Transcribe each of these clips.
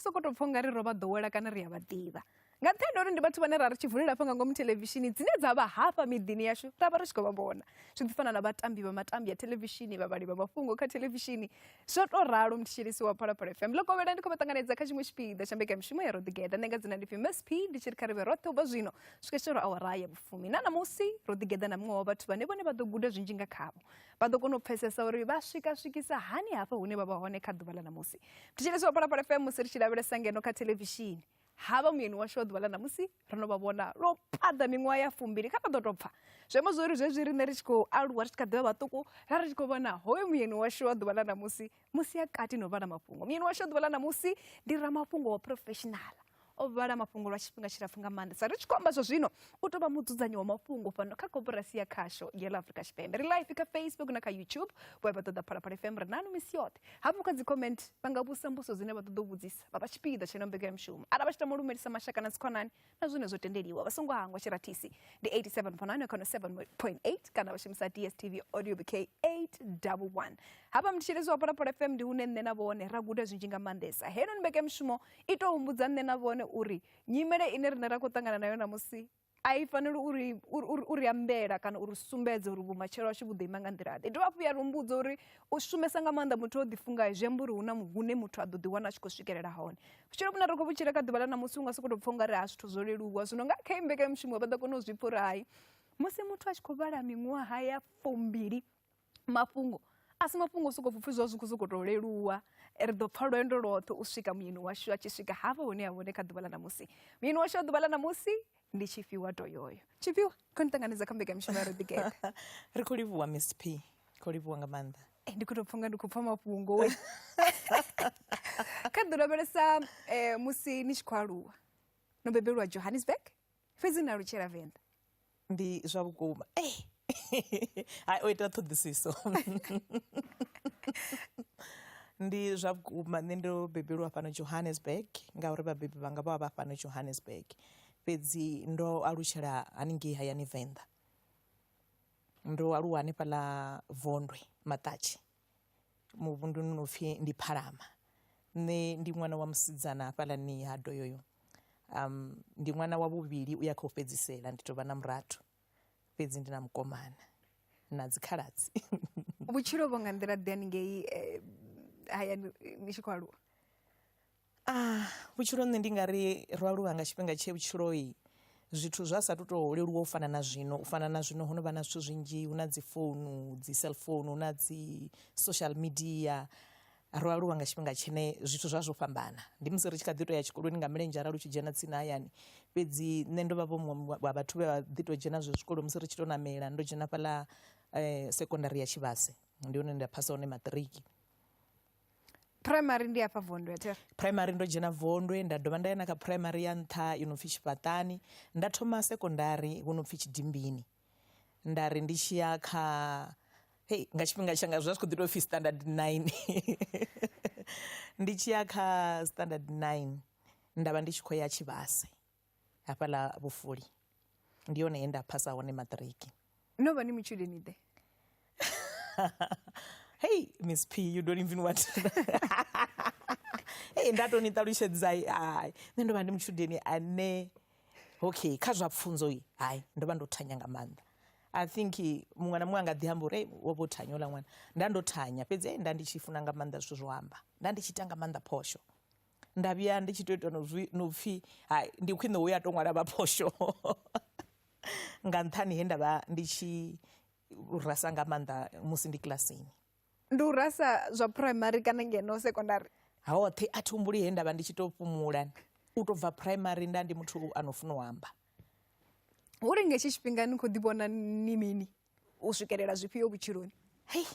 soko to pfha ungari ro vha ḓowela kana ri a vha ḓivha nga nṱhani uri ndi vhathu vhane ra ri tshi vulela hafha nga ngomu thelevishini dzine dza vha hafha miḓini yashu ra vha ri tshi khou vha vhona zwi ḓi fana na vhatambi vha matambi ya thelevishini vhavhali vha mafhungo kha thelevishini zwo tou ralo mthetshelisi wa phalaphala fm ḽo kovhela ndi khou vha ṱanganedza kha tshiṅwe tshipiḓa tsha mbekamishumo ya roḓigeda nṋe nga dzina ndi pfi msp ndi tshi ri kha ri vhe roṱhe ubva zwino swika tshitoro awara ya vhufumi na ṋamusi roḓigeda na muṅwe wa vhathu vhane vhone vha ḓo guda zwinzhi nga khavho vha ḓo kona u pfesesa uri vha swika swikisa hani hafha hune vha vha hone kha ḓuvha ḽa ṋamusi thetshelesi wa phalaphala fm musi ri tshi lavhelesa ngeno kha thelevishini ha vha muyeni washu wa ḓuvha ḽa ṋamusi ro no vha vhona lwo phaḓa miṅwaha ya fumbili kha vha ḓo tou pfha zwi amba zwori zwezwi riṋe ri tshi khou aluwa ri tshi kha ḓivha vhaṱuku ra ri tshi khou vhona hoyo muyeni washu wa ḓuvha ḽa ṋamusi musi a kati no vhala mafhungo muyeni washu a ḓuvha ḽa ṋamusi ndi ramafhungo wa professional o vhala mafhungo lwa tshifhinga tshilapfu nga maanḓa sa ri tshi khou amba zwa zwino u tou vha mudzudzanyi wa mafhungo fhano kha koporasi ya khasho ya ḽa afrika tshipembe ri life kha facebook na kha youtube vho vha ṱoḓa phalaphala fm ri nanu misi yoṱhe hafhu kha dzi comment vha nga vhusa mbuso dzine vha ṱoḓa u vhudzisa vha vha tshipiḓa tsheno mbekanyamushumo arali vha tshi tama u lumelisa mashaka na dzikhonani na zwine zwo tendeliwa vha songo hangwa tshiratisi ndi 87.9 kana 7.8 kana vha shumisa dstv audio bk 811 hafha mthetshelezi wa phalaphala fm ndi hune nṋe na vhone ra guda zwinzhi nga maanḓesa heno ni mbekemushumo i tou humbudza nṋe na vhone uri nyimele ine rine ra khou ṱangana nayo namusi a i faneli uri uri ambela kana uri sumbedze uri vhumatshelo washu vhu ḓo ima nga nḓila ḓe dovha hafhu ya rumbudza uri u shumesa nga maanḓa muthu o ḓifungayo zwi amba uri hu na hune muthu a ḓo ḓiwana a tshi khou swikelela hone vhutshilo vhune ri khou vhutshila kha ḓuvha ḽa ṋamusi u nga sokou tou pfha u nga ri ha zwithu zwo leluwa zwino nga kha imbekanyamushumo vha ḓo kona u zwi pfha uri hai musi muthu a tshi khou vhala miṅwaha ya fumbili mafhungo a si mafhungo sokou pfhi zwa zwi khou sokou tou leluwa ri ḓo pfha lwendo lwoṱhe u swika muyeni washu a tshi swika hafha hune ha vhone kha ḓuvha ḽa ṋamusi muyeni washu a ḓuvha ḽa ṋamusi ndi tshifhiwa to yoyo tshifhiwa kho ni ṱanganedza kha mbekamishumo ya rodigede ri khou livhuwa miss p khou livhuwa nga maanḓa eh, ndi khou tou pfha nga ndi khou pfha mafhungo we kha ḓi lavhelesa um eh, musi ni tshi khou aluwa no bebelwa johannesburg fhedzi na lutshela venḓa ndi zwa vhukuma eh. hai o ita ṱhoḓisiso ndi zwa vhukuma nṋe ndo bebelwa fhano johannesburg ngauri vhabebi vhanga vha vha vha fhano johannesburg fhedzi ndo alutshela haningei hayani venḓa ndo aluwa hanefhaḽa vondwe maṱatshi muvhunduni no pfhi ndi phalama nṋe ndi ṅwana wa musidzana hafhaḽani ha doyoyo um ndi ṅwana wa vhuvhili u ya kha u fhedzisela ndi tou vha na murathu fhedzi ndi na mukomana na dzikhaladzi vhutshilo vho nga nḓila ḓe haningei eh, hayani ni tshi khou aluwa ah vhutshilo nṋe ndi nga ri ro aluwa nga tshifhinga tshe vhutshiloi zwithu zwa sa tu to leluwa u fana na zwino u fana na zwino ho no vha na zwithu zwinzhi hu na dzi founu dzi cellphone hu na dzi social media Ro aluwa nga tshifhinga tshine zwithu zwa zwo fhambana. Ndi musi ri tshi kha ḓi tou ya tshikoloni nga milenzhe arali u tshi dzhena tsini hayani. Fhedzi nṋe ndo vha vho muṅwe wa vhathu vhe vha ḓi tou dzhena zwe zwikolo musi ri tshi tou ṋamela. Ndo dzhena fhaḽa sekondari ya Tshivhase, ndi hune nda phasa hone maṱiriki. Phuraimari ndi hafha Vondwe Thero? Phuraimari ndo dzhena Vondwe nda dovha nda ya na kha phuraimari ya nṱha yo no pfi Tshifhaṱani. Nda thoma sekondari hu no pfi Tshidimbini. nda ri ndi tshi ya kha hei nga tshifhinga tshanga zwi vha zwi kho ḓi tou pfhi standard nine ndi tshi ya kha standard nine nda vha ndi tshi khou ya tshivhase hafhaḽa vhufuli ndi hone he nda phasa hone maṱiriki no vha ni matshudeni ḓe hei miss p you don't even want to know. hei ndatoni ṱalutshedzai hai nṋe ndo vha ndi mutshudeni ane okay kha zwa pfunzo i hai ndo vha ndo thanya nga maanḓa i think muṅwe na muṅwe a nga ḓi amba uri "Ei, wo vho thanya ola ṅwana nda ndo thanya fhedzi ei, nda ndi tshi funa nga maanḓa zwithu zwo amba nda ndi tshi ita nga maanḓa phosho nda vhuya ndi tshi to ita no zwi- no pfhi hai ndi khwine uya to ṅwala vha phosho nga nṱhani he nda vha ndi tshi u rasa nga maanḓa musi ndi kilasini ndi u rasa zwa primary kana ngeno secondary hoṱhe a thi humbuli he nda vha ndi tshi tou fhumula u tou bva primary nda ndi muthu a no funa u amba uri nga hetshi tshifhinga ni khou ḓi vhona ni mini u swikelela zwifhio vhutshiloni hei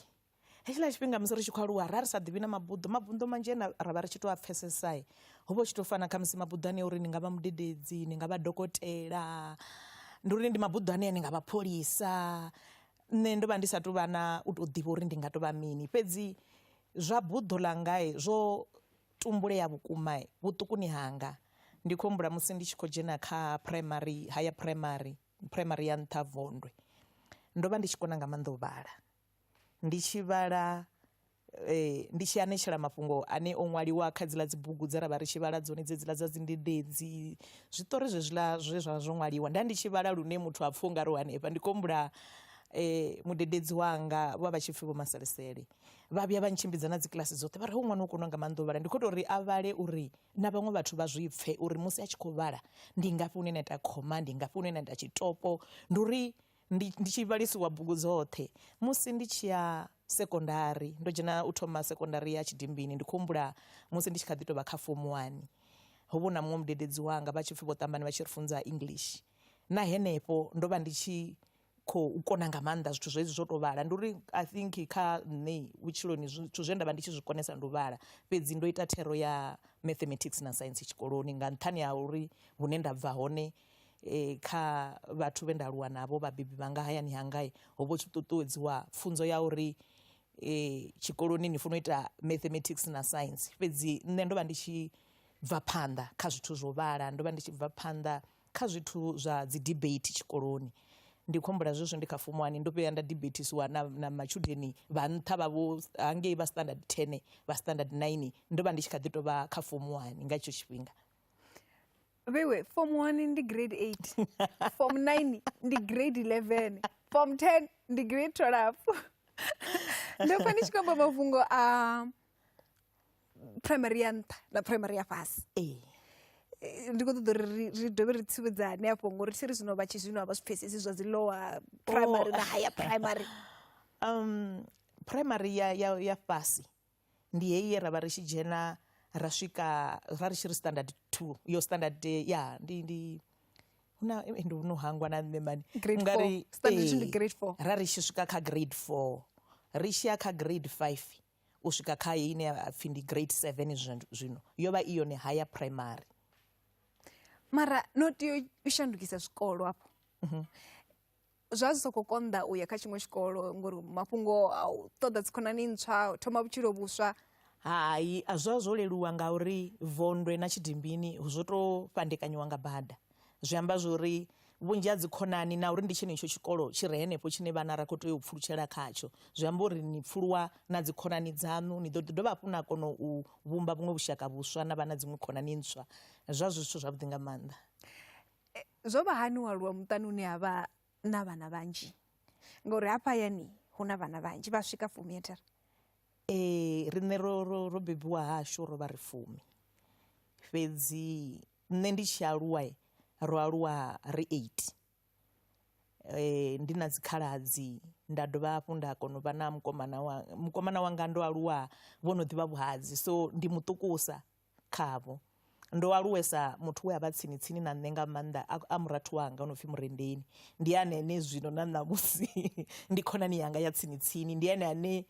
hetshiḽa tshifhinga musi ri tshi khou aluwa ra ri sa ḓivhi na mabuḓo mabuḓo manzhi ane ra vha ri tshi tou a pfhesesa ho vha hu tshi tou fana khamusi mabuḓo ane uri ni nga vha mudededzi ni nga vha dokotela ndi uri ndi mabuḓo ane a ni nga vha pholisa nṋe ndo vha ndi sa tou vha na u tou ḓivha uri ndi nga tou vha mini fhedzi zwa buḓo ḽanga zwo tumbulea vhukuma vhuṱukuni hanga ndi khou humbula musi ndi tshi khou dzhena kha phuraimari haya phuraimari phuraimari ya nṱha vondwe ndo vha ndi tshi kona nga maanḓa u vhala. Ndi tshi vhala, ndi tshi anetshela mafhungo ane o ṅwaliwa kha dziḽa dzi bugu dze ra vha ri tshi vhala dzone dze dziḽa dza dzi ndendedzi, zwiṱori zwe zwiḽa zwe zwa vha zwo ṅwaliwa. Nda ndi tshi vhala lune muthu ha pfhi ungari u hanefha, ndi khou humbula mudededzi wanga vho vha vha tshi pfhi vho Maselisele, vha vhuya vha ntshimbidza na dzi kiḽasi dzoṱhe vha ri hoyu ṅwana u kona nga maanḓa u vhala, ndi khou tou ri a vhale uri na vhaṅwe vhathu vha zwi pfhe uri musi a tshi khou vhala ndi ngafhi hune na ita khoma, ndi ngafhi hune na ita tshitopo, ndi uri ndi ndi tshi vhalisiwa bugu dzoṱhe musi ndi tshi ya sekondari ndo dzhena u thoma sekondari ya Tshidimbini ndi khou humbula musi ndi tshi kha ḓi tou vha kha fomo wani ho vha hu na muṅwe mudededzi wanga vha tshi pfhi vho ṱambani vha tshi ri funza English na henefho ndo vha ndi tshi khou kona nga maanḓa zwithu zwezwi zwo tou vhala ndi uri I think kha nṋe vhutshiloni zwithu zwe nda vha ndi tshi zwi konesa ndi u vhala fhedzi ndo ita thero ya mathematics na science tshikoloni nga nṱhani ha uri hune nda bva hone E, kha vhathu vhe nda aluwa navho vhabebi vhanga hayani hangai ho vho tshi ṱuṱuwedziwa pfunzo ya uri e, tshikoloni ni funa u ita mathematics na science fhedzi nṋe ndo vha ndi tshi bva phanḓa kha zwithu zwo vhala ndo vha ndi tshi bva phanḓa kha zwithu zwa dzi debate tshikoloni ndi khou humbula zwezwi ndi kha fomo wani ndo vhuya nda debatisiwa na, na matshudeni vha nṱha vha vho hangei vha standard ten vha standard nine ndo vha ndi tshi kha ḓi tovha kha fomo wani nga hetsho tshifhinga veiwe form one ndi grade eight form nine ndi grade eleven form ten ndi grade twelve ndofa ndi tshikamba mafhungo a primary ya nṱha na primary ya fhasi ee Eh, ndi khou ṱoḓa uri ri- ri dovhe ri tsivhudzane afho ngori thi ri zwino vha tshi zwino a vha zwi pfesesi zwa dzi lower primary na higher primary um primary ya ya ya fhasi ndi heyi ye ra vha ri tshi dzhena ra swika ra ri tshi ri standard two yo standard ya ndi ndi huna ndi no hangwa na nṋe mani ungari ra ri tshi swika kha grade four ri tshi ya kha grade five u swika kha heyi ine ya pfhi ndi grade seven zwino yo vha i yone haya primary mara no tea u shandukisa zwikolo afho mhm. zwa zwi sokou konḓa u ya kha tshiṅwe tshikolo ngori mafhungo a u ṱoḓa dzikhonani ntswa thoma vhutshilo vhuswa hai a zwa zwo leluwa ngauri vondwe na tshidimbini zwo tou fhandekanyiwa nga bada zwi amba zwori vhunzhi ha dzikhonani na uri ndi tshenetsho tshikolo tshi re henefho tshine vhana ra khou tea u pfulutshela khatsho zwi amba uri ni pfuluwa na dzikhonani dzaṋu ni ḓo ḓi dovha hafhu na kona u vhumba vhuṅwe vhushaka vhuswa na vha na dziṅwe khonani ntswa zwa zwi zwithu zwavhuḓi nga maanḓa Zwo vha hani u aluwa muṱani une ha vha na vhana vhanzhi ngauri hafha hayani hu na vhana vhanzhi vha swika fumi a thi ri. Ee riṋe ro ro ro bebiwa hashu ro vha ri fumi fhedzi nṋe ndi tshi aluwa ro aluwa ri eight ndi na dzi khaladzi nda dovha hafhu nda kona u vha na mukomana wanga mukomana wanga ndo aluwa vho no ḓivha vhuhadzi so ndi muṱukusa khavho. Ndo aluwesa muthu we a vha tsini-tsini na nṋe nga maanḓa a a murathu wanga o no pfi Murendeni. Ndi ane ene zwino na ṋamusi ndi khonani yanga ya tsini-tsini. Ndi ene ane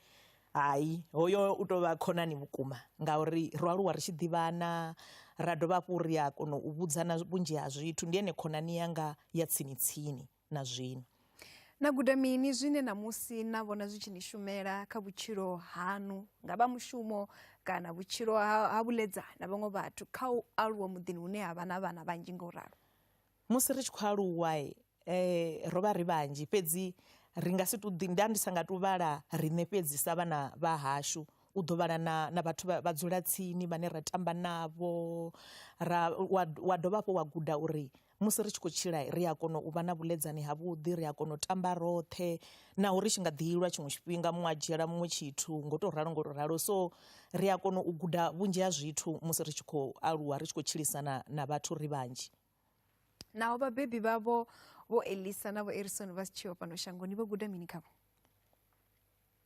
hai hoyo u tou vha khonani vhukuma ngauri ro aluwa ri tshi ḓivhana ra dovha hafhu ri a kona u vhudzana vhunzhi ha zwithu. Ndi ene khonani yanga ya tsini-tsini. na zwino. Na guda mini zwine ṋamusi na vhona zwi tshi ni shumela kha vhutshilo haṋu nga vha mushumo kana vhutshilo ha vhuledza na vhaṅwe vhathu kha u aluwa muḓini hune ha vha na vhana vhanzhi nga u ralo? Musi ri tshi khou aluwa eh, ro vha ri vhanzhi fhedzi ri nga si tu nda ndi sa nga tu vhala riṋe fhedzi sa vhana vha hashu u ḓo vhala na, na vhathu vha dzula tsini vhane ra tamba navho ra wa, wa dovha hafho wa guda uri Musi ri tshi khou tshila, ri a kona u vha na vhuḽedzani havhuḓi, ri a kona u tamba roṱhe, naho ri tshi nga ḓi lwa tshiṅwe tshifhinga, muṅwe a dzhiela muṅwe tshithu, ngo tou ralo ngo tou ralo. So, ri a kona u guda vhunzhi ha zwithu musi ri tshi khou aluwa, ri tshi khou tshilisana na vhathu ri vhanzhi. Naho vhabebi vhavho Vho Elisa na Vho Erison vha si tsheho fhano shangoni, vho guda mini khavho?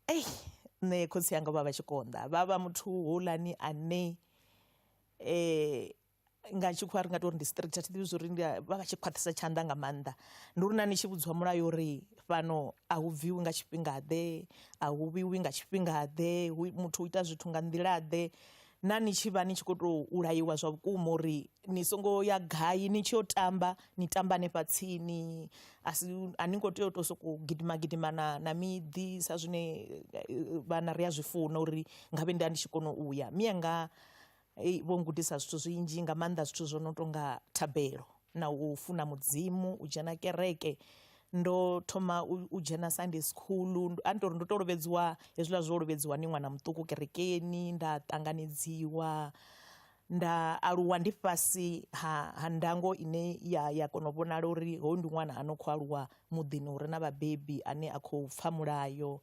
Ei, nṋe khotsi anga vha vha tshi konḓa, vha vha muthu houḽani ane nga tshikhuwa ri nga tori ndi straight a thi ḓivhi zwori ndi vha vha tshi khwaṱhisa tshanḓa nga maanḓa ndi uri na ni tshi vhudziwa mulayo uri fhano a hu bviwi nga tshifhinga ḓe a hu vhiwi nga tshifhinga ḓe hu muthu u ita zwithu nga nḓila ḓe na ni tshi vha ni tshi kho to laiwa zwa vhukuma uri ni songo ya gai ni tshi yo tamba ni tamba hanefha tsini a si a ni ngo tea u to soko gidima gidima na na miḓi sa zwine vhana ri a zwi funa uri ngavhe nda ndi tshi kona u ya mianga Ei, vho ngudisa zwithu zwinzhi nga maanḓa zwithu zwo no tonga thabelo na u funa mudzimu u dzhena kereke ndo thoma u dzhena sunday school a ni tori ndo to lovhedziwa hezwiḽa zwo lovhedziwa ni ṅwana muṱuku kerekeni nda ṱanganedziwa nda aluwa ndi fhasi ha ha ndango ine ya ya kona u vhonala uri hoyu ndi ṅwana a no kho aluwa muḓini hure na vhabebi ane a khou pfha mulayo.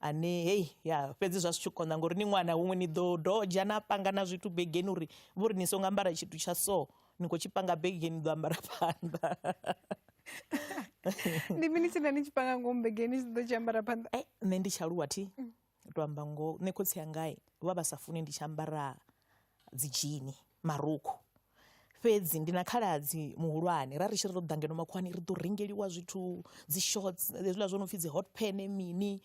ane hei ya fhedzi zwa zwi tshi konḓa ngori ni ṅwana huṅwe ni ḓo dodzha na panga na zwithu begeni uri vho ri ni songo ambara tshithu tsha so ni khou tshi panga begeni ni ḓo ambara phanḓa ndi mini tshine ni tshi panga ngomu begeni tshi ḓo tshi ambara phanḓa eh, nṋe ndi tshaluwa thi mm. to amba ngoho nṋe khotsi yangai vha vha sa funi ndi tshi ambara dzi dzhini marukhu fhedzi ndi na khaladzi muhulwane ra ri tshi ri ro ḓa ngeno makhuwani ri ḓo rengeliwa zwithu dzi shorts hezwiḽa zwo no pfhi dzi hot pan mini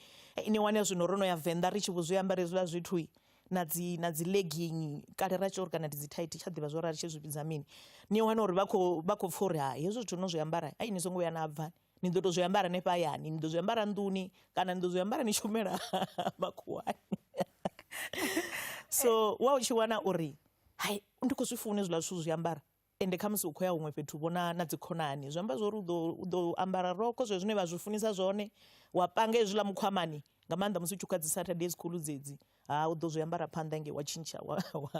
ni wane zwino ro no ya venḓa ri tshi vho zwi ambara hezwiḽa zwithu na dzi na dzi legging kale ra tshi uri kana ndi dzi thaithi tsha ḓivha zwo ri ri tshi zwi vhidza mini ni wane uri vha khou vha khou pfha uri hai hezwi zwithu no zwi ambara ai ni songo vhuya na bva Ni ḓo tou zwi ambara hanefha hayani, ni ḓo zwi ambara nḓuni kana ni ḓo zwi ambara ni tshi humela makhuwani. So wa u tshi wana uri hai ndi khou zwi funa hezwiḽa zwithu u zwi ambara ende khamusi u khou ya huṅwe fhethu vho na na dzi khonani, zwi amba zwori u ḓo u ḓo ambara rokho zwezwo zwine vha zwi funesa zwone wa panga hezwiḽa mukhwamani nga maanḓa musi u tshi khou ya dzi Saturday school dzedzi, ha u ḓo zwi ambara phanḓa hangei wa tshintsha wa wa.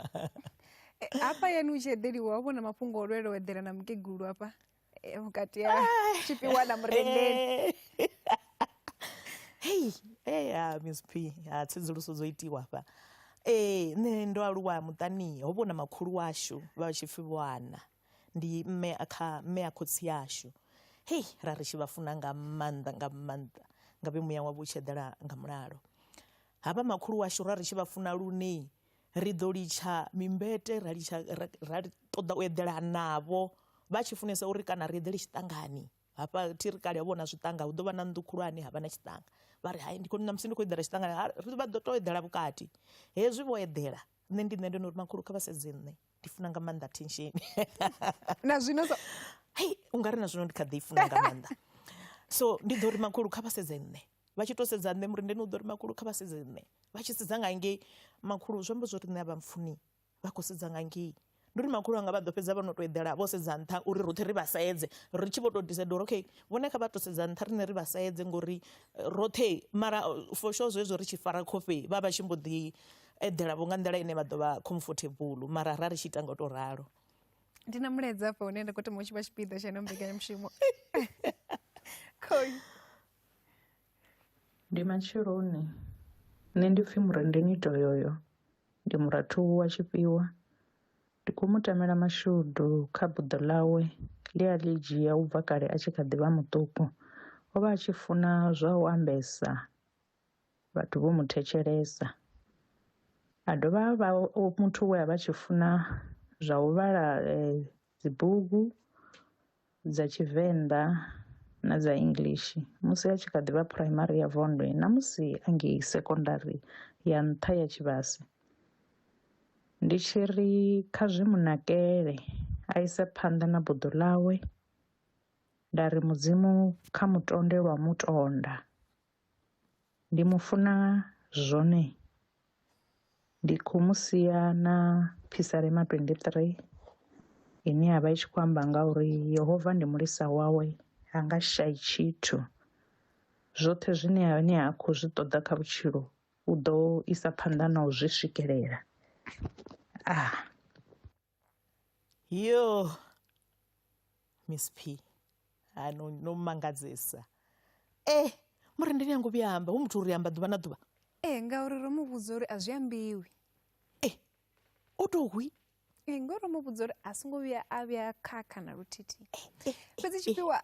Hafha hayani u tshi eḓeliwa wa vhona mafhungo o lwelwa u eḓela na mukegulu hafha. Eh, vhukati ha tshifhiwa na murendeni hei hey, ya miss p ha tsedzuluso dzo itiwa hafha ee nṋe ndo aluwa muṱani ho vhona makhulu washu vha tshi pfhi vhoana ndi mme kha mme a khotsi yashu hei ra ri tshi vha funa nga maanḓa nga maanḓa nga vhe muya wavho u tshi eḓela nga mulalo havha makhulu washu ra ri tshi vha funa lune ri ḓo litsha mimbete ra litsha ra ṱoḓa u eḓela navho vha tshi funesa uri kana ri eḓele tshiṱangani hafha thi ri kale vhona zwiṱanga hu ḓo vha na nnḓu khulwane ha vha na tshiṱanga vha ri hai ndi khou ṋamusi ndi khou eḓela tshiṱangani ri vha ḓo tou eḓela vhukati hezwi vho eḓela nṋe ndi nṋe ndo no uri makhulu kha vha sedze nṋe ndi funa nga maanḓa tension na zwino so hei u nga ri na zwino ndi kha ḓi i funa nga maanḓa so ndi ḓo ri makhulu kha vha sedze nṋe vha tshi to sedza nṋe muri ndeni u ḓo ri makhulu kha vha sedze nṋe vha tshi sedza nga ngei makhulu zwi amba zwo ri nṋe a vha mpfuni vha khou sedza nga ngei ndi uri makhulu anga vha ḓo fhedza vha no to eḓela vho sedza nṱha uri roṱhe ri vha sedze ri tshi vho to decide uri okay vhone kha vha to sedza nṱha riṋe ri vha sedze ngori eh, roṱhe mara eh, for sure zwezwo ri tshi fara khofhe vha vha tshi mbo ḓi eḓela vho nga nḓila ine vha ḓo vha comfortable mara ra ri tshi ita nga u tou ralo ndi na mulaedza afha hune nda khou thoma u tshi vha tshipiḓa tsha ino mbekanyamushumo khoi ndi matsheloni nṋe ndi pfhi murendeni toyoyo ndi murathu wa tshifhiwa ndi khou mu tamela mashudu kha buḓo ḽawe ḽi a ḽi dzhia u bva kale a tshi kha ḓi vha muṱuku o vha a tshi funa zwa u ambesa vhathu vho mu thetshelesa. A dovha a vha muthu we a vha tshi funa zwa u vhala dzi bugu dza tshivenḓa na dza English musi a tshi kha ḓivha phuraimari ya vondwe na musi a ngei sekondari ya nṱha ya tshivhase. Ndi tshi ri kha zwi mu nakele a ise phanḓa na buḓo ḽawe nda ri mudzimu kha mutonde lwa mutonda. Ndi mu funa zwone ndi kho mu sia na phisalema twenty three ine yavha i tshi khou amba nga uri yehova ndi mulisa wawe ha nga shavhi tshithu zwoṱhe zwine a ne a khou zwi ṱoḓa kha vhutshilo u ḓo isa phanḓa na u zwi swikelela . yo miss p ha no no mangadzesa e mara ndi nyango vhuya amba hu muthu uri amba ḓuvha na ḓuvha ee ngauri ro mu vhudza uri a zwi ambiwi e o tou hwi ee ngori ro mu vhudza uri a songo vhuya a vhuya khakha na luthithi fhedzi tshifhiwa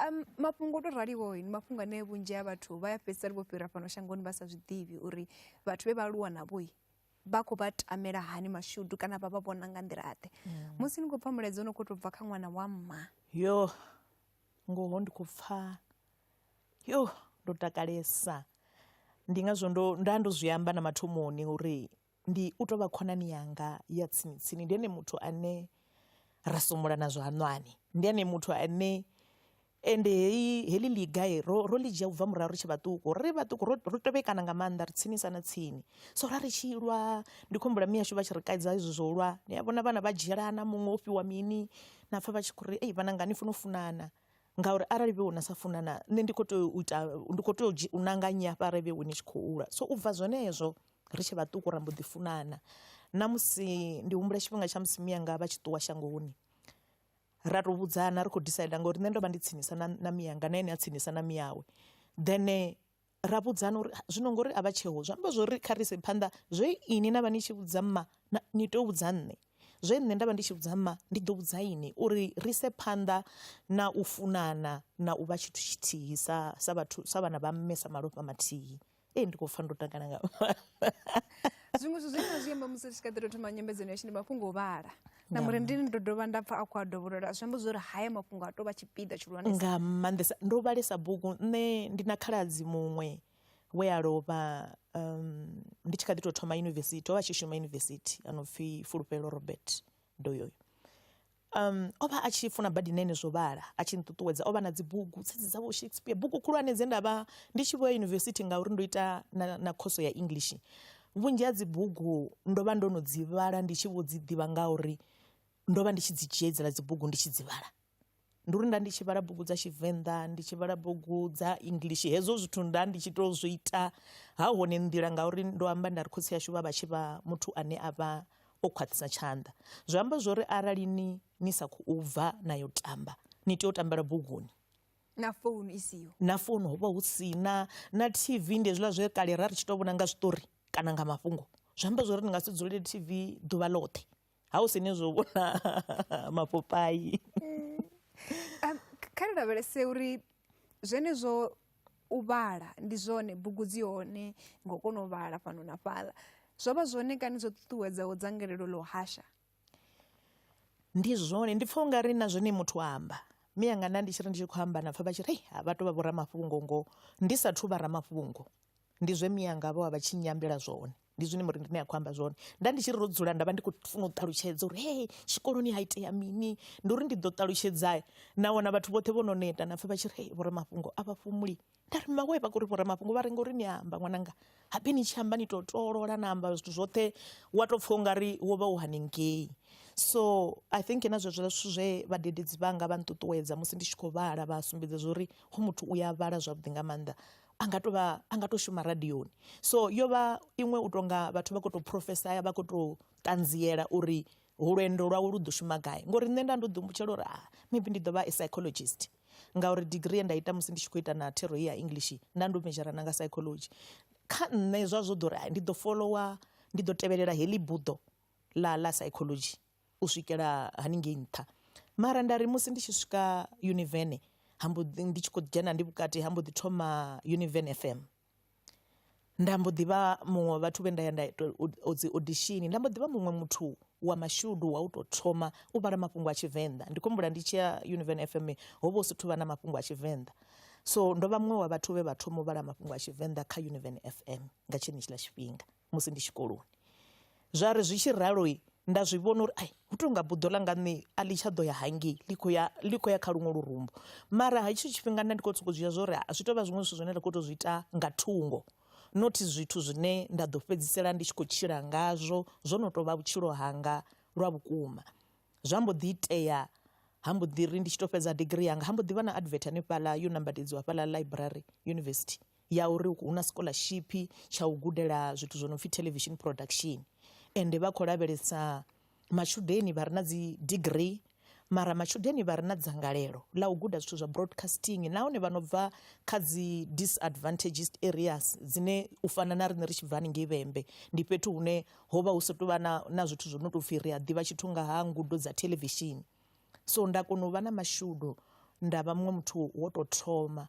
um, mafhungo o to raliho ni mafhungo ane vhunzhi ha vhathu vha ya fhedzisela vho fhira fhano shangoni vha sa zwi ḓivhi uri vhathu vhe vha aluwa navhoi vha khou vha tamela hani mashudu kana vha vha vhona nga nḓila ḓe mm. musi ni khou pfha mulaedza u no khou tou bva kha ṅwana wa mma yo ngoho ndi khou pfha yo ndo takalesa ndi ngazwo ndo nda ndo zwi amba na mathomoni uri ndi u tou vha khonani yanga ya tsini tsini ndi ene muthu ane ra sumula na zwanwani ndi ene muthu ane Ende heyi, heḽi ḽiga ro, ro ḽi dzhia u bva murahu ri tshe vhaṱuku. Ri ri vhaṱuku ro, ro tevhekana nga maanḓa, ri tsinisa na tsini. So ra ri tshi lwa, ndi khou humbula miashu vha tshi ri kaidza hezwi zwo lwa. Ni a vhona vhana vha dzhielana, muṅwe o fhiwa mini, na pfa vha tshi khou ri, Ei vhananga ni funa u funana. Ngauri arali vhe wena sa funana, nṋe ndi khou tea u ita, ndi khou tea u dzhi, u nanga nnyi hafha arali vhe wena i tshi khou lwa. So u bva zwenezwo, ri tshe vhaṱuku ra mbo ḓi funana. Na musi, ndi humbula tshifhinga tsha musi mianga vha tshi ṱuwa shangoni. ra to vhudzana ri khou decide ngauri nṋe ndo vha ndi tsinisa na na miyanga na ene a tsinisa na miyawe then ra vhudzana uri zwino ngori a vha tsheho zwi amba zwori kha ri ise phanḓa zwe ini na vha ni tshi vhudza mma ni tea u vhudza nṋe zwe nṋe nda vha ndi tshi vhudza mma ndi ḓo vhudza ini uri ri ise phanḓa na u funana na u vha tshithu tshithihi sa sa vhathu sa vhana vha mme sa malofha mathihi. ee ndi khou pfa ndo takala nga zwiṅwe zwithu zwine na zwi amba musi ri tshi kha ḓi to thoma nyambedzano yashu ndi mafhungo o vhala na murendini ndo dovha nda pfa a khou a dovholola zwi amba zwo uri haya mafhungo a tou vha tshipiḓa tshihulwanesa nga maanḓesa ndo vhalesa bugu nṋe ndi na khaladzi muṅwe we a lovha um, ndi tshi kha ḓi tou thoma yunivesithi o vha tshi shuma yunivesithi a no pfi fulufhelo robert doyoyo Um, o vha a tshi funa badi nene zwo vhala a tshi nṱuṱuwedza o vha na dzibugu tsedzi dza vho shakespeare bugu khulwane dze nda vha ndi tshi vho ya yunivesithi ngauri ndo ita na, na khoso ya english vhunzhi ha dzibugu ndo vha ndo no dzi vhala ndi tshi vho dzi ḓivha ngauri ndo vha ndi tshi dzi dzhiedzela dzibugu ndi tshi dzi vhala ndi uri nda ndi tshi vhala bugu dza tshivenḓa ndi tshi vhala bugu dza english hezwo zwithu nda ndi tshi to zwi ita ha hone nḓila ngauri ndo amba nda ri khotsi yashu vha vha tshi vha muthu ane a vha o khwaṱhisa tshanḓa zwi amba zwori arali ni ni sa khou bva na yo tamba ni tea u tambela buguni na founu i siho na founu ho vha hu si na na tv ndi hezwiḽa zwe kale ra ri tshi tou vhona nga zwiṱori kana nga mafhungo zwi amba zwori ni nga si dzulele tv ḓuvha ḽoṱhe ha hu sine zwo vhona mapopai mm. um, kha ri lavhelese uri zwenezwo u vhala ndi zwone bugu dzi hone ngo kona u vhala fhano na fhaḽa zwo vha zwone kana zwo ṱuṱuwedzaho dzangalelo ḽo hasha ndi zwone ndi pfha ungari na zwone muthu amba miyanga nda ndi tshi ri ndi tshi khou amba na pfha vha tshi ri ha vha to vha vho ramafhungo ngo ndi sathu vha ramafhungo. Ndi zwe mianga vho vha vha tshi nyambela zwone, ndi zwine Murindini a khou amba zwone. Nda ndi tshi ri ro dzula nda vha ndi khou funa u ṱalutshedza uri hee tshikoloni ha itea mini, ndi uri ndi ḓo ṱalutshedza na wana vhathu vhoṱhe vho no neta na pfha vha tshi ri hee vhoramafhungo a vha fhumuli. Nda ri mmawe vha khou ri vhoramafhungo vha ri ngori ni amba ṅwananga, habe ni tshi amba ni tou tolola na amba zwithu zwoṱhe wa tou pfha u nga ri wo vha u hanengei. So I think na zwezwo zwithu zwe vhadededzi vhanga vha nṱuṱuwedza musi ndi tshi khou vhala vha sumbedza zwa uri hoyu muthu u ya vhala zwavhuḓi nga maanḓa, a nga to vha a nga to shuma radioni so yo vha iṅwe u tonga vhathu vha kho to profesaya vha kho to ṱanziela uri lwendo lwawe lu ḓo shuma gai ngori nṋe nda ndo ḓi humbutshela uri ah maybe ndi ḓo vha a psychologist ngauri degree ye nda ita musi ndi tshi khou ita na thero ya english nda ndo medzhara na nga psychology kha nṋe zwa zwo ḓo ri ndi ḓo followa ndi ḓo tevhelela heḽi buḓo ḽa ḽa psychology u swikela haningei nṱha, mara nda ri musi ndi tshi swika univen ha mbo ḓi ndi tshi khou dzhena ndi vhukati ha mbo ḓi thoma univen F_M. Nda mbo ḓi vha muṅwe wa vhathu vhe nda ya nda ita dzi audition, nda mbo ḓi vha muṅwe muthu wa mashudu wa u tou thoma u vhala mafhungo a Tshivenḓa, ndi khou humbula ndi tshi ya univen F_M ho vha hu si thu vha na mafhungo a Tshivenḓa, so ndo vha muṅwe wa vhathu vhe vha thoma u vhala mafhungo a Tshivenḓa kha univen F_M nga tshenetshiḽa tshifhinga. musi ndi tshikoloni zwa ri zwi tshi ralo nda zwi vhona uri ai hu tou nga buḓo ḽa nga nṋe a ḽi tsha ḓo ya hangei ḽi khou ya ḽi khou ya kha luṅwe lurumbu mara ha itsho tshifhinga nda ndi khou sokou zwi zwa uri zwi tou vha zwiṅwe zwithu zwine nda khou tou zwi ita nga thungo not zwithu zwine nda ḓo fhedzisela ndi tshi khou tshila ngazwo zwo no tou vha vhutshilo hanga lwa vhukuma zwa mbo ḓi itea ha mbo ḓi ri ndi tshi tou fhedza digirii yanga ha mbo ḓi vha na advert hanefhaḽa yo nambatedziwa hafhaḽa ḽaiburari yunivesithi. ya uri hu na scholarship tsha u gudela zwithu zwo no pfhi television production ende vha khou lavhelesa matshudeni vha re na dzi degree mara matshudeni vha re na dzangalelo ḽa u guda zwithu zwa broadcasting nahone vha no bva kha dzi disadvantages areas dzine u fana na riṋe ri tshi bva haningei vhembe ndi fhethu hune ho vha hu sa tou vha na, na zwithu zwo no tou pfhi ri a ḓivha tshithu nga ha ngudo dza television so nda kona u vha na mashudu nda vha muṅwe muthu wo tou thoma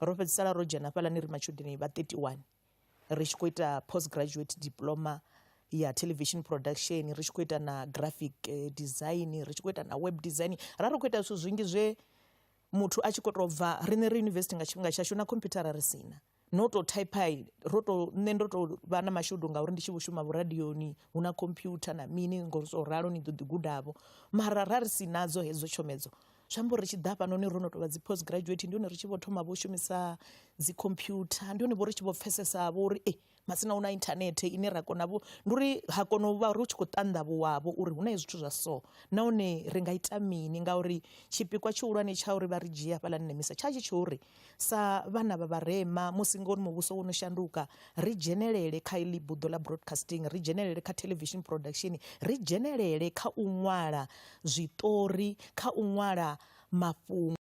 ro fhedzisela ro dzhena hafhaḽani ri matshudeni vha 31 ri tshi khou ita post graduate diploma ya television production ri tshi khou ita na graphic eh, design ri tshi khou ita na web design ra ri khou ita zwithu zwingi zwe muthu a tshi khou tou bva riṋe ri yunivesithi nga tshifhinga tshashu na khomphuthara ri sina no tou typei ro tou nṋe ndo tou vha na mashudu ngauri ndi tshi vho shuma vhuradioni hu na khomphyutha na mini ngo so ralo ni ḓo ḓi gudavho mara ra ri si nadzo hedzo tshomedzo zwi amba uri ri tshi ḓa hafhanoni ro no tou vha dzi post graduate ndi hone ri tshi vho thoma vho shumisa dzi computer ndi hone vho ri tshi vho pfesesa vho uri e masina hu na inthanethe ine ra kona vho ndi uri ha kona u vha ri tshi khou ṱanḓavhuwavho uri hu na zwithu zwa so nahone ri nga ita mini ngauri tshipikwa tshihulwane tsha uri vha ri dzhie hafhaḽani nemisa tsha tshi tsho uri Sa vhana vha vharema, musi ngouri muvhuso wo no shanduka, ri dzhenelele kha iḽi buḓo ḽa broadcasting, ri dzhenelele kha television production, ri dzhenelele kha u ṅwala zwiṱori, kha u ṅwala mafhungo.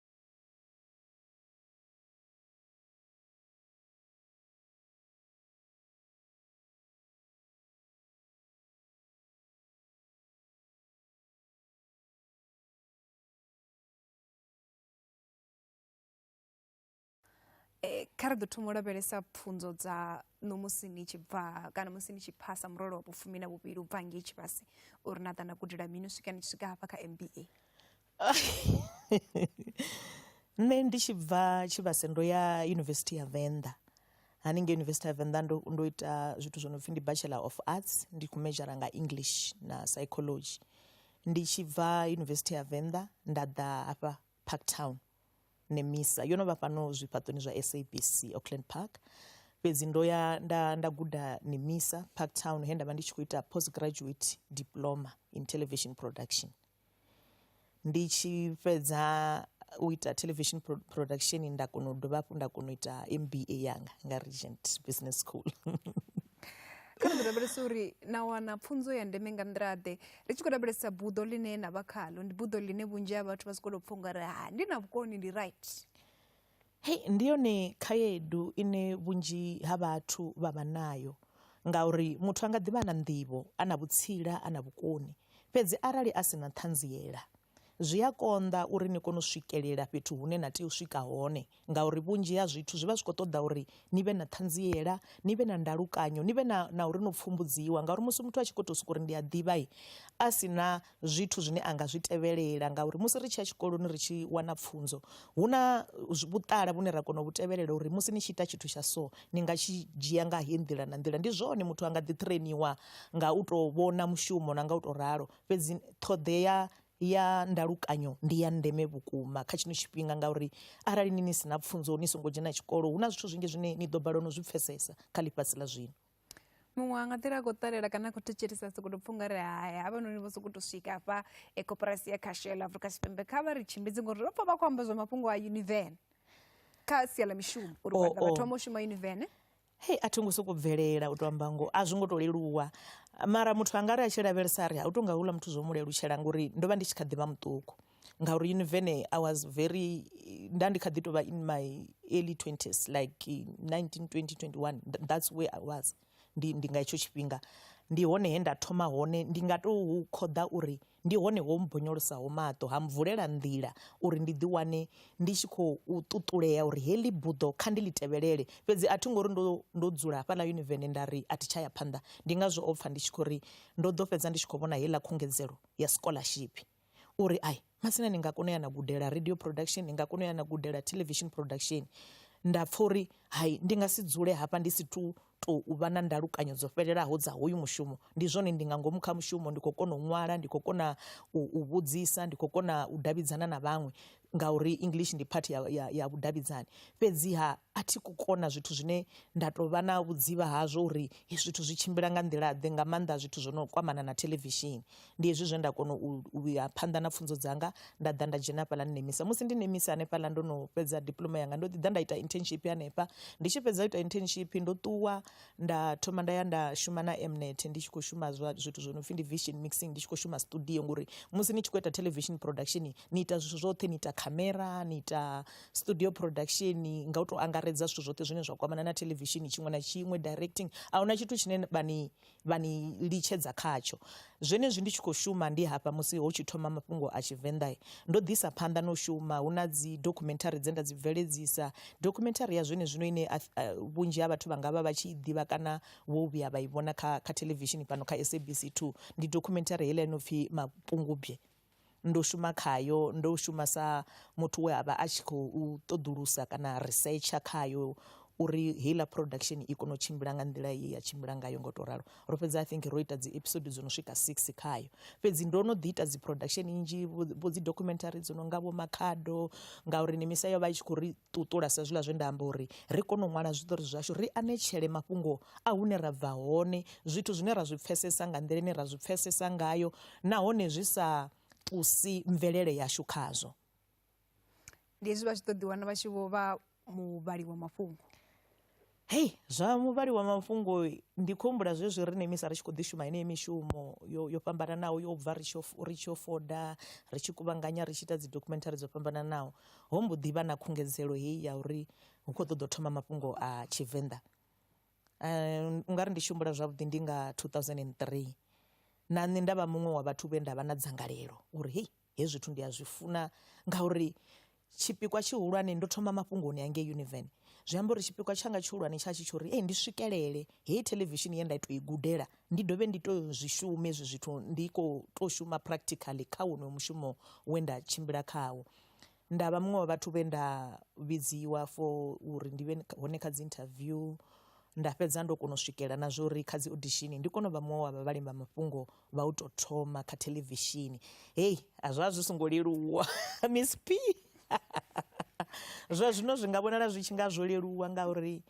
Eh, kha ri ḓo thoma u lavhelesa pfunzo dza no musi ni tshi bva kana musi ni tshi phasa murole wa vhufumi na vhuvhili u bva ngei tshivhasi uri na ḓa na gudela mini u swika ni tshi swika hafha kha mba nṋe ndi tshi bva tshivhase ndo ya yunivesithi ya venḓa haningei yunivesithi ya venḓa ndo, ndo ita zwithu zwo no pfhi ndi bachelor of arts ndi khou mejara nga english na psychology ndi tshi bva yunivesithi ya venḓa nda ḓa hafha Parktown, Nemisa yo no vha fhano zwifhaṱoni zwa SABC Auckland Park. Fhedzi ndo ya nda nda guda Nemisa Parktown he nda vha ndi tshi khou ita post graduate diploma in television production. Ndi tshi fhedza u ita television production nda kona u dovha hafhu nda kona u ita MBA yanga nga Regent Business School. kha ri lavhelese uri na wana pfunzo ya ndeme nga nḓila ḓe ri tshi khou lavhelesa buḓo ḽine na vha khalo ndi buḓo ḽine vhunzhi ha vhathu vha sikolo pfha unga ri ha ndi na vhukoni ndi right hei ndi yone khaedu ine vhunzhi ha vhathu vha vha nayo ngauri muthu a nga ḓivha na nḓivho a na vhutsila a na vhukoni fhedzi arali a si na ṱhanziela zwi a konḓa uri ni kone u swikelela fhethu hune na tea u swika hone ngauri vhunzhi ha zwithu zwi vha zwi khou ṱoḓa uri ni vhe na ṱhanziela ni vhe na ndalukanyo ni vhe na na uri no pfumbudziwa ngauri musi muthu a tshi khou tou sokou uri ndi a ḓivha a si na zwithu zwine a nga zwi tevhelela ngauri musi ri tshi ya tshikoloni ri tshi wana pfhunzo hu na vhuṱala vhune ra kona u vhu tevhelela uri musi ni tshi ita tshithu tsha so ni nga tshi dzhia nga heyi nḓila na nḓila ndi zwone muthu a nga ḓi ṱhireniwa nga u tou vhona mushumo na nga u tou ralo fhedzi ṱhoḓea ya ndalukanyo ndi ya ndeme vhukuma kha tshino tshifhinga ngauri arali ni ni si na pfunzo ni songo dzhena tshikolo hu na zwithu zwinzhi zwine ni ḓo balelwa no zwi pfhesesa kha ḽifhasi ḽa zwino muṅwe a nga ḓila a khou ṱalela kana a khou thetshelesa sokou tou pfha ungari hai havhanoni vho sokou tou swika hafha e koporasi ya khashela afrika tshipembe kha vha ri tshimbidzi ngori ro pfha vha khou amba zwa mafhungo a univene kha sia ḽa mishumo uri oh, vhathu oh. vha thoma u shuma univene hei a thi ngo sokou bvelela u tou amba ngoho a zwi ngo tou leluwa mara muthu a nga ri a tshi lavhelesa a ri ha u tou nga houḽa muthu zwo mu lelutshela ngori ndo vha ndi tshi kha ḓi vha muṱuku ngauri univene i was very nda ndi kha ḓi tou vha in my early 20s like 19 20 21 that's where i was ndi ndi nga hetsho tshifhinga ndi hone he nda thoma hone ndi nga tou khoḓa uri Ndi hone ho mmbonyolosaho maṱo ha mvulela nḓila uri ndi ḓiwane ndi tshi khou ṱuṱulea uri heḽi buḓo kha ndi ḽi tevhelele. Fhedzi a thi ngo ri ndo ndo dzula hafhaḽa yunivene nda ri a thi tsha ya phanḓa. Ndi ngazwo o pfa ndi tshi khou ri ndo ḓo fhedza ndi tshi khou vhona heiḽa khungedzelo ya sikoḽashiphi. O ri, Ai, Masina ni nga kona u ya na gudela radio production, ni nga kona u ya na gudela television production. Nda pfa uri, Hai, ndi nga si dzule hafha ndi si tou tou vha na ndalukanyo dzo fhelelaho dza hoyu mushumo ndi zwone ndi nga ngomu kha mushumo ndi khou kona u ṅwala ndi khou kona u vhudzisa ndi khou kona u davhidzana na vhaṅwe ngauri english ndi part ya, ya, ya vhudavhidzani fhedziha a thi ku kona zwithu zwine nda tou vha na vhudzivha hazwo uri zwithu zwi tshimbila nga nḓila ḓe nga maanḓa zwithu zwo no kwamana na thelevishini Ndi hezwi zwe nda kona u ya phanḓa na pfhunzo dzanga nda ḓa nda dzhena hafhaḽa ni nemisa musi ndi nemisa hanefhaḽa ndo no fhedza diploma yanga ndo ḓi ḓa nda ita internship hanefha ndi tshi fhedza u ita internship ndo ṱuwa nda thoma nda ya nda shuma na M_net ndi tshi kho shuma zwa zwithu zwo no pfhi ndi vision mixing ndi tshi kho shuma studio ngori musi ni tshi kho ita television production ni ita zwithu zwoṱhe ni ita khamera ni ita studio production nga u to angaredza zwithu zwoṱhe zwine zwa kwamana na theḽevishini tshiṅwe na tshiṅwe directing ahuna tshithu tshine vha ni vha ni litshedza khatsho. Zwenezwi ndi tshi khou shuma ndi hafha musi ho tshi thoma mafhungo a Tshivenḓa, ndo ḓisa phanḓa na u shuma. Hu na dzidokhumenthari dze nda dzi bveledzisa. Dokhumenthari ya zwenezwino ine vhunzhi ha vhathu vha nga vha vha tshi i ḓivha kana vho vhuya vha i vhona kha kha theḽevishini fhano kha SABC 2 ndi dokhumenthari heiḽa i no pfi Mapungubwe. Ndo shuma khayo, ndo shuma sa muthu we a vha a tshi khou ṱoḓulusa kana risetsha khayo uri heiḽa production i kone u tshimbila nga nḓila ye ya tshimbila ngayo nga u tou ralo. Ro fhedza I think ro ita dzi episode dzo no swika six khayo, fhedzi ndo no ḓi ita dzi production nnzhi vho vho dzi documentary dzo no nga vho Makhado ngauri Nemisa yo vha i tshi khou ri ṱuṱula sa zwiḽa zwe nda amba uri ri kone u ṅwala zwiṱori zwashu, ri anetshele mafhungo a hune ra bva hone, zwithu zwine ra zwi pfhesesa nga nḓila ine ra zwi pfhesesa ngayo nahone zwi sa tusi mvelele yashu khazwo ndi hezwi vha tshi ḓo ḓiwana vha tshi vho vha muvhali wa mafhungo hei zwa muvhali wa mafhungo ndi khou humbula zwezwi riṋe misa ri tshi khou ḓi shuma heneyi mishumo yo yo fhambananaho yo bva ri tshi ri tshi yo foda ri tshi kuvhanganya ri tshi ita dzi documentary dzo fhambananaho ho mbo ḓi vha na khungedzelo heyi ya uri hu khou ṱoḓa u thoma mafhungo a tshivenḓa Um, u nga ri ndi tshi humbula zwavhuḓi ndi nga 2003 na nṋe nda vha muṅwe wa vhathu vhe nda vha na dzangalelo uri hei hezwi zwithu ndi a zwi funa ngauri tshipikwa tshihulwane ndo thoma mafhungoni a ngei univen zwi amba uri tshipikwa tshanga tshihulwane tsha tshi tsho uri ei ndi swikelele heyi thelevishini ye nda tou i gudela ndi dovhe ndi tou zwi shume hezwi zwithu ndi khou tou shuma practically kha wonoyo mushumo we nda tshimbila khawo Nda vha muṅwe wa vhathu vhe nda vhidziwa for uri ndi vhe hone kha dzi interview nda fhedza ndo kona u swikela na zwa uri kha dzi audition ndi kone u vha muṅwe wa vha vhalimi vha mafhungo vha u tou thoma kha theḽevishini. Hei a zwa zwi songo leluwa Miss P zwa zwino zwi nga vhonala zwi tshi nga zwo leluwa ngauri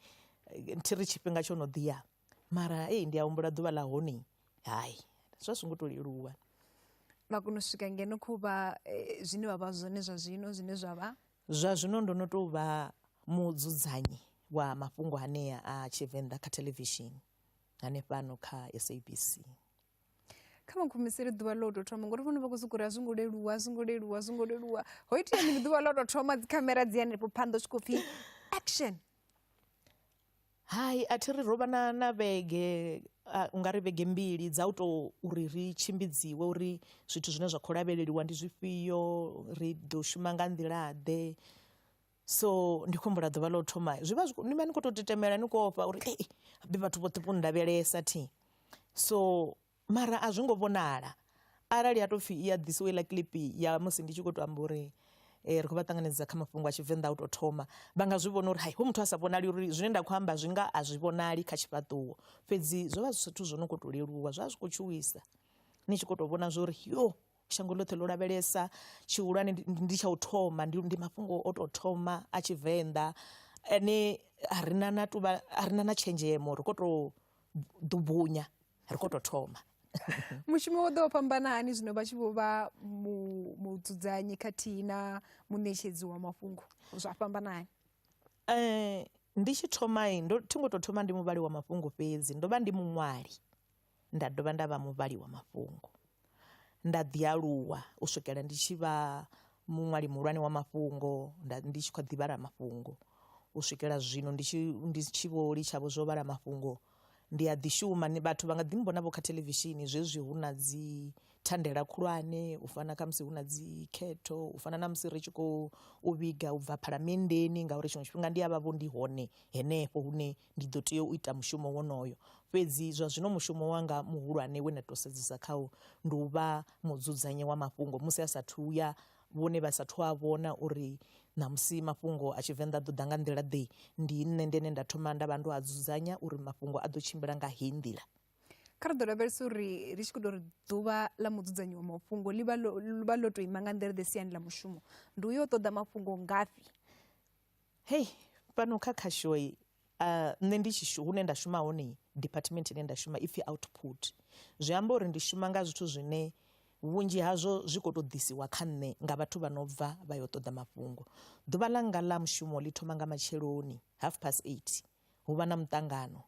thi ri tshifhinga tsho no ḓi ya. mara ei ndi a humbula ḓuvha ḽa hone hai zwa zwi ngo to leluwa vha kona u swika ngeno kho vha eh, zwine vha vha zwone zwa zwino zwine zwa vha zwa zwino ndo no tou vha mudzudzanyi wa mafhungo hanea a tshivenḓa kha thelevishini hanefhano kha sabc kha vha nkhumisele ḓuvha ḽo tou thoma ngori vhone vha khou sokou ri a zwi ngo leluwa a zwi ngo leluwa a zwi ngo leluwa ho itea mini ḓuvha ḽo tou thoma dzikhamera dzi hanefho phanḓa u tshi khou pfhi action Hai a thi ri ro vha na na vhege u nga ri vhege mbili dza u to uri ri tshimbidziwe uri zwithu zwine zwa kho lavheleliwa ndi zwifhio ri ḓo shuma nga nḓila ḓe, so ndi khou humbula ḓuvha ḽa u thoma zwi vha zwi ni vha ni khou tou tetemela ni khou ofha uri habe vhathu vhoṱhe vho nndavhelesa thi so. Mara a zwi ngo vhonala arali ya tou pfhi i a ḓisiwa iḽa kilipi ya musi ndi tshi khou tou amba uri um ri khou vha ṱanganedza kha mafhungo a Tshivenḓa a u tou thoma, vha nga zwi vhona uri hai hoyu muthu a sa vhonali uri zwine nda khou amba zwi nga a zwi vhonali kha tshifhaṱuwo. Fhedzi zwo vha zwi zwithu zwo no khou tou leluwa, zwa zwi khou tshuwisa ni tshi khou tou vhona zwo ri yo shango ḽoṱhe ḽo lavhelesa tshihulwane ndi tsha u thoma, ndi ndi mafhungo o tou thoma a Tshivenḓa ane a ri na na tou vha, a ri na na tshenzhemo ri khou tou ḓubunya. ri khou tou thoma mushumo wo ḓo fhambana hani zwino vha tshi vho vha mudzudzanyi khathihi na muṋetshedzi wa mafhungo zwa fhambana hani um ndi tshi thoma ndo thi ngo tou thoma ndi muvhali wa mafhungo fhedzi ndo vha ndi muṅwali nda dovha nda vha muvhali wa mafhungo nda ḓi aluwa u swikela ndi tshi vha muṅwali muhulwane wa mafhungo nda ndi tshi kha ḓi vhala mafhungo u swikela zwino ndi tshi ndi tshi vho litsha vho zwo vhala mafhungo ndi a ḓi shuma ni vhathu vha nga ḓi mmbona vho kha theḽevishini zwezwi hu na dzi thandela khulwane u fana kha musi hu na dzi khetho u fana na musi ri tshi khou vhiga u bva phalamenndeni ngauri tshiṅwe tshifhinga ndi a vha vho ndi hone henefho hune ndi ḓo tea u ita mushumo wonoyo fhedzi zwa zwino mushumo wanga muhulwane we nda tou sedzesa khawo ndi u vha mudzudzanyi wa mafhungo musi a sathu ya vhone vha sathu a vhona uri ṋamusi mafhungo a tshivenḓa ḓo ḓa nga nḓila ḓe ndi nṋe ndene nda thoma nda vha ndo a dzudzanya uri mafhungo a ḓo tshimbila nga heyi nḓila kha ri ḓo lavhelesa uri ri tshi khou tou ri ḓuvha ḽa mudzudzanyi wa mafhungo ḽi vha ḽo tou ima nga nḓila ḓe siani ḽa mushumo ndi u yo ṱoḓa mafhungo ngafhi Hei fhano kha khashoi uh, nṋe ndi tshi hune nda shuma hone department ine nda shuma ipfhi output zwi amba uri ndi shuma nga zwithu zwine vhunzhi hazwo zwi khou tou ḓisiwa kha nṋe nga vhathu vha no bva vha yo ṱoḓa mafhungo ḓuvha ḽanga ḽa mushumo ḽi thoma nga matsheloni half past eight hu vha na muṱangano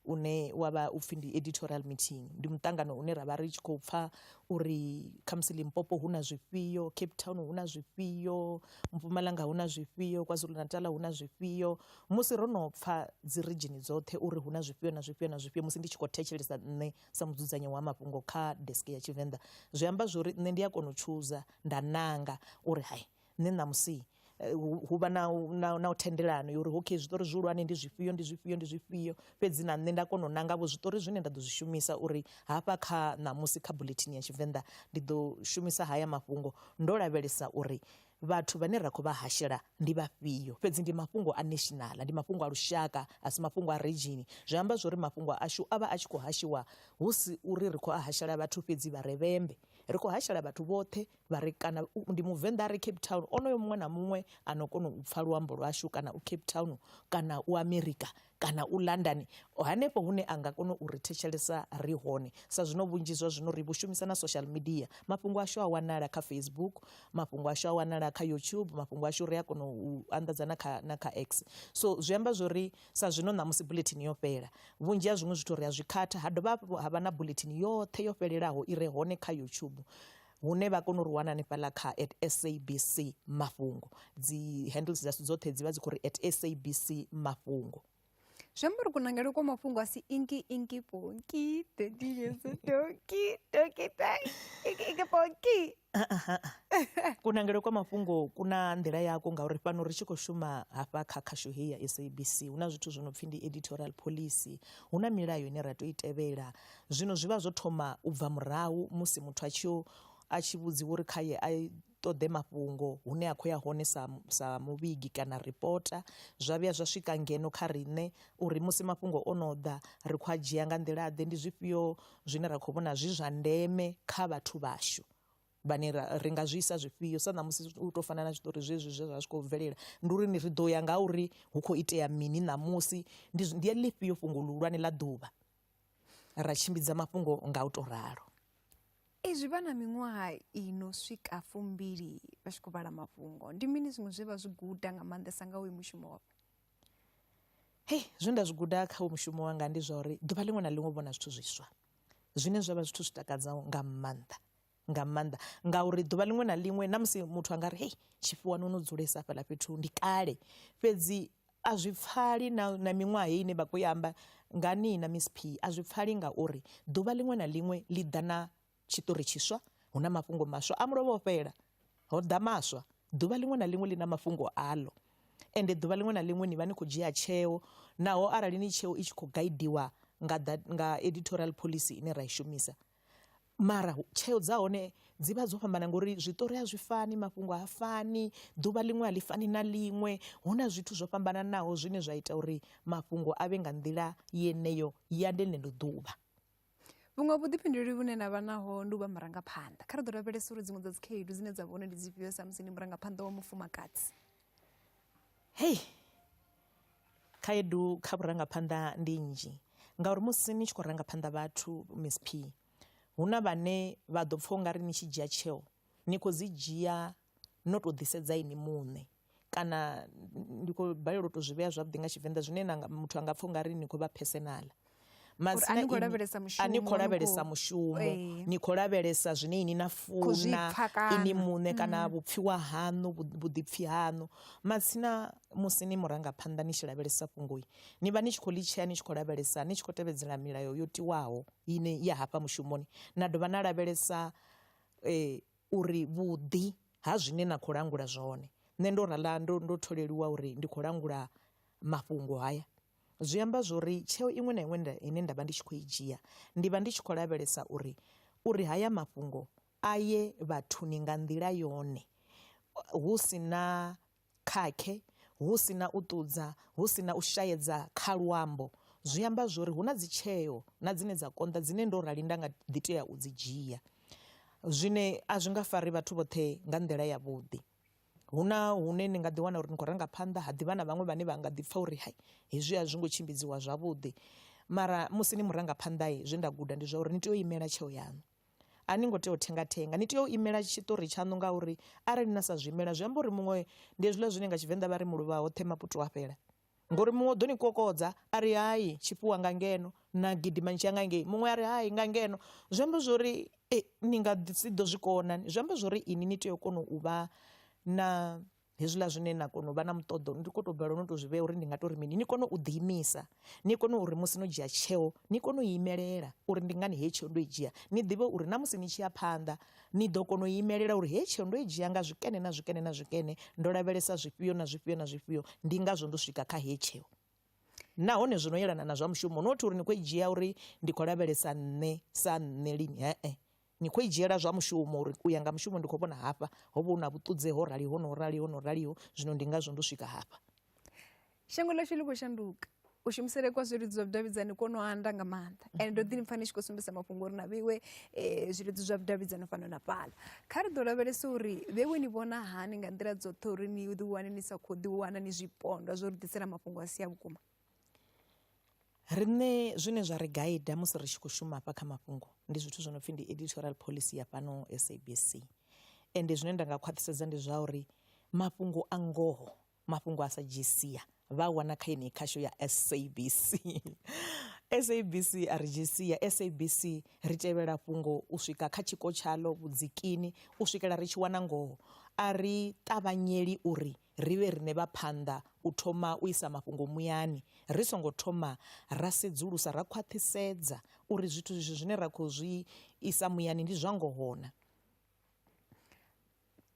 une wa vha u pfhi ndi editorial meeting, ndi muṱangano une ra vha ri tshi khou pfha uri khamusi Limpopo hu na zwifhio, Cape Town hu na zwifhio, Mpumalanga hu na zwifhio, KwaZulu-Natal hu na zwifhio. Musi ro no pfha dzi ridzhini dzoṱhe uri hu na zwifhio na zwifhio na zwifhio musi ndi tshi khou thetshelesa nṋe sa mudzudzanyi wa mafhungo kha desk ya Tshivenḓa, zwi amba zwo ri nṋe ndi a kona u tshuza nda nanga uri hai nṋe ṋamusi eh, hu vha na u thendelano yo uri okay zwiṱori zwihulwane ndi zwifhio ndi zwifhio ndi zwifhio fhedzi na nṋe nda kona u nanga vho zwiṱori zwine nda ḓo zwi shumisa uri hafha kha ṋamusi kha bulethini ya tshivenḓa ndi ḓo shumisa haya mafhungo ndo lavhelesa uri vhathu vhane ra khou vha hashela ndi vhafhio fhedzi ndi mafhungo a national ndi mafhungo a lushaka a si mafhungo a region zwi amba zwori mafhungo ashu a vha a tshi khou hashiwa hu si uri ri khou a hashela vhathu fhedzi vha revhembe ri khou hashela vhathu vhoṱhe vha ri kana ndi muvenḓa a re cape town onoyo muṅwe na muṅwe a no kona u pfha luambo lwashu kana u cape town kana u america kana u london hanefho hune a nga kona u ri thetshelesa ri hone sa zwino vhunzhi zwa zwino ri vhu shumisa na social media mafhungo ashu a wanala kha facebook mafhungo ashu a wanala kha youtube mafhungo ashu ri a kona u anḓadza na kha na kha x so zwi amba zwo ri sa zwino ṋamusi bulletin yo fhela vhunzhi ha zwiṅwe zwithu ri a zwi khatha ha dovha hafhu ha vha na bulletin yoṱhe yo fhelelaho i re hone kha youtube hune vha kona u ri wana hanefhaḽa kha at sabc mafhungo dzi handles dzashu dzoṱhe dzi vha dzi khou ri at sabc mafhungo zwi amba uri kunangele kwa mafhungo a si inki inki ponki thirty years toki toki toki ponki kunangele kwa mafhungo ku na nḓila yako ngauri fhano ri tshi khou shuma hafha kha khasho heyi ya sabc hu na zwithu zwo no pfhi ndi editorial policy hu na milayo ine ra tou i tevhela Zwino zwi vha zwo thoma u bva murahu musi muthu a tshi yo a tshi vhudziwa uri khaye a ṱoḓe mafhungo hune a khou ya hone sa sa muvhigi kana ripota zwa vhuya zwa swika ngeno kha riṋe uri musi mafhungo o no ḓa ri khou a dzhia nga nḓila ḓe ndi zwifhio zwine ra khou vhona zwi zwa ndeme kha vhathu vhashu vhane ra ri nga zwi isa zwifhio sa ṋamusi u tou fana na zwiṱori zwezwi zwe zwa zwi khou bvelela ndi uri ni ri ḓo ya nga uri hu khou itea mini ṋamusi ndi ndi ḽifhio fhungo ḽihulwane ḽa ḓuvha ra tshimbidza mafhungo nga u tou ralo. Ezwi vha na miṅwaha i no swika fumbili vha tshi khou vhala mafhungo, ndi mini zwiṅwe zwe vha zwi guda nga maanḓesa nga uyu mushumo wavho? Hei, zwe nda zwi guda kha uyu mushumo wanga ndi zwa uri ḓuvha ḽiṅwe na ḽiṅwe u vhona zwithu zwiswa zwine zwa vha zwithu zwi takadzaho nga maanḓa. nga maanḓa ngauri ḓuvha ḽiṅwe na ḽiṅwe na musi muthu a nga ri hei tshifhiwani ono dzulesa fhaḽa fhethu ndi kale fhedzi a zwi pfali na na miṅwaha heyi ine vha khou i amba nga ni na miss p a zwi pfali ngauri ḓuvha ḽiṅwe na ḽiṅwe ḽi ḓa na tshiṱori tshiswa hu na mafhungo maswa a mulovha o fhela ho ḓa maswa ḓuvha ḽiṅwe na ḽiṅwe ḽi na mafhungo aḽo ende ḓuvha ḽiṅwe na ḽiṅwe ni vha ni khou dzhia tsheo naho arali ni tsheo i tshi khou gaidiwa nga nga editorial phoḽisi ine ra i shumisa. mara tsheo dza hone dzi vha dzo fhambana ngori zwiṱori a zwi fani mafhungo ha fani ḓuvha ḽiṅwe a ḽi fani na ḽiṅwe hu na zwithu zwo fhambananaho zwine zwa ita uri mafhungo a vhe nga nḓila yeneyo ya ḽeneḽo ḓuvha vhuṅwe vhuḓifhinduleli vhune na vha naho ndi u vha murangaphanḓa kha ri ḓo lavhelesa uri dziṅwe dza dzi khaedu dzine dza vha hone ndi dzifhio samusi ndi murangaphanḓa wa mufumakadzi hei Khaedu kha vhurangaphanḓa ndi nnzhi ngauri musi ni tshi khou ranga phanḓa vhathu Miss P hu na vhane vha ḓo pfha ungari ni tshi dzhia tsheo ni khou dzi dzhia no to ḓi sedza inwi muṋe, kana ndi khou balelwa u to zwi vhea zwavhuḓi nga tshivenḓa zwine na nga muthu anga pfha ungari ni khou vha phesenaḽa. Madzina ni khou ini- lavhelesa mushumo, a ni khou ni lavhelesa khou- mushumo Ee. ni khou lavhelesa zwine ini na Khou zwi funa pfa kana. Mm. ini muṋe kana vhupfiwa haṋu vhu- vhuḓipfi haṋu matsina musi ni murangaphanḓa ni tshi lavhelesa fhungoi ni vha ni tshi khou ḽi tshea ni tshi khou lavhelesa ni tshi khou tevhedzela milayo yo tiwaho ine ya hafha mushumoni na dovha na lavhelesa eh, uri vhuḓi ha zwine na khou langula zwone nṋe ndo rala ndo, ndo tholeliwa uri ndi khou langula mafhungo haya Zwi amba zwo ri tsheo iṅwe na iṅwe ine nda vha ndi tshi khou i dzhia ndi vha ndi tshi khou lavhelesa uri uri haya mafhungo a ye vhathuni nga nḓila yone hu si na khakhe, hu si na u ṱudza, hu si na u shaedza kha luambo. Zwi amba zwo ri hu na dzi tsheo na dzine dza konḓa dzine ndo rali nda nga ḓi tea u dzi dzhia zwine a zwi nga fari vhathu vhoṱhe nga nḓila ya vhuḓi. hu na hune ni nga ḓi wana uri ni khou ranga phanḓa ha ḓivha na vhaṅwe vhane vha nga ḓi pfha uri hai hezwi a zwi ngo tshimbidziwa zwavhuḓi, mara musi ni murangaphanḓa zwe nda guda ndi zwa uri ni tea u imela tsheo yaṋu a ni ngo tea u thenga thenga ni tea u imela tshiṱori tshaṋu ngauri arali na sa zwi imela zwi amba uri muṅwe ndi hezwiḽa zwine nga tshivenḓa vha ri muluvha hoṱhe maputwa a fhela. Ngori muṅwe u ḓo ni kokodza a ri hai tshi fhiwa nga ngeno na gidima ni tshiya nga ngei muṅwe a ri hai nga ngeno, zwi amba zwori ni nga ḓi si ḓo zwi kona zwi amba zwori ini ni tea u kona u vha na hezwiḽa zwine na kona u vha na muṱoḓo ndi kho to balelwa no to zwi vhea uri ndi nga tori mini ni kone u ḓi imisa ni kone uri musi no dzhia tsheo ni kone u imelela uri ndi ngani heyi tsheo ndo i dzhia ni ḓivhe uri na musi ni tshi ya phanḓa Ni ḓo kona u imelela uri hei tsheo ndo i dzhia nga zwikene na zwikene na zwikene, ndo lavhelesa zwifhio na zwifhio na zwifhio, ndi ngazwo ndo swika kha hei tsheo. Nahone zwi no yelana na zwa mushumo, not uri ni khou i dzhia uri ndi khou lavhelesa nṋe sa nṋe lini, he-e. Ni khou i dzhiela zwa mushumo uri u ya nga mushumo ndi khou vhona hafha ho vha hu na vhuṱudzeho ho raliho no raliho no raliho, zwino ndi ngazwo ndo swika hafha. shango ḽashu ḽi khou shanduka u shumisele kwa zwilidzi zwa vhudavhidzani kwo no anda nga maanḓa mhm. and ndo ḓi pfa ni tshi khou sumbisa mafhungo uri na vheiwe um eh, zwilidzi zwa vhudavhidzani fhano na fhala kha ri ḓo lavhelesa uri vheiwe ni vhona hani nga nḓila dzoṱhe uri ni ḓi wane ni sa khou ḓi wana ni zwipondwa zwo ri ḓisela mafhungo a si a vhukuma riṋe zwine zwa ri gaida musi ri tshi khou shuma hafha kha mafhungo ndi zwithu zwo no pfhi ndi editorial policy ya fhano sabc ende zwine nda nga khwaṱhisedza ndi zwa uri mafhungo a ngoho mafhungo a sa dzhii sia vha a wana kha yeneyi khasho ya sabc sabc a ri dzhii sia sabc ri tevhela fhungo u swika kha tshiko tshaḽo vhudzikini u swikela ri tshi wana ngoho a ri ṱavhanyeli uri ri vhe riṋe vha phanḓa u thoma u isa mafhungo muyani ri songo thoma ra sedzulusa ra khwaṱhisedza uri zwithu zwishu zwine ra khou zwi isa muyani ndi zwa ngohona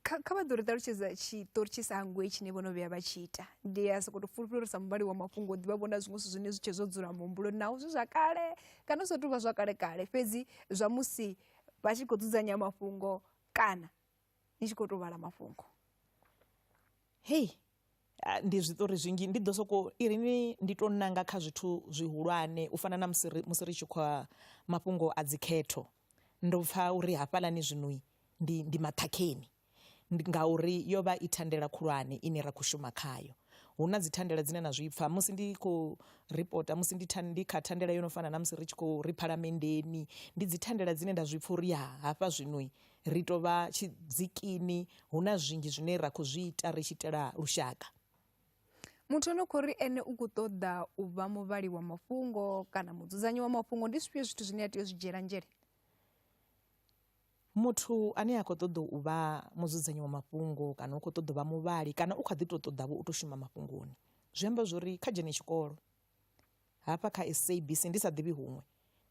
kha vha ḓo ri ṱalutshedza tshiṱori tshi sa hangwei tshine vho no vhuya vha tshi ita ndi a sokou tou fulufhela uri sa muvhali wa mafhungo ḓivha vhona zwiṅwe zwithu zwine zwi tshe zwo dzula muhumbuloni naho zwi zwa kale kana zwo tou vha zwa kale kale fhedzi zwa musi vha tshi khou dzudzanya mafhungo kana ni tshi khou tou vhala mafhungo hei ah, ndi zwiṱori zwinzhi ndi ḓo soko iri ni ndi to nanga kha zwithu zwihulwane u fana na musi ri- musi ri tshi khou a- mafhungo a dzikhetho ndo pfa uri hafhalani zwinoi ndi ndi maṱhakheni Ndi- ngauri yo vha i thandela khulwane ine ra khou shuma khayo hu na dzithandela dzine na zwi pfa musi ndi khou ripota musi ndi, than, ndi kha thandela yo no fana na musi ri tshi khou ri phalamenndeni ndi dzithandela dzine nda zwi pfa uri ya hafha zwinoi Ri tou vha tshidzikini, hu na zwinzhi zwine ra khou zwi ita ri tshi itela lushaka. Muthu ano khou ri ene u khou ṱoḓa u vha muvhali wa mafhungo kana mudzudzanyi wa mafhungo, ndi zwifhio zwithu zwine a tea u zwi dzhiela nzhele? Muthu ane a khou ṱoḓa u vha mudzudzanyi wa mafhungo kana u khou ṱoḓa u vha muvhali kana u kha ḓi tou ṱoḓavho u tou shuma mafhungoni, zwi amba zwo ri kha dzhene tshikolo hafha kha SABC, ndi sa ḓivhi huṅwe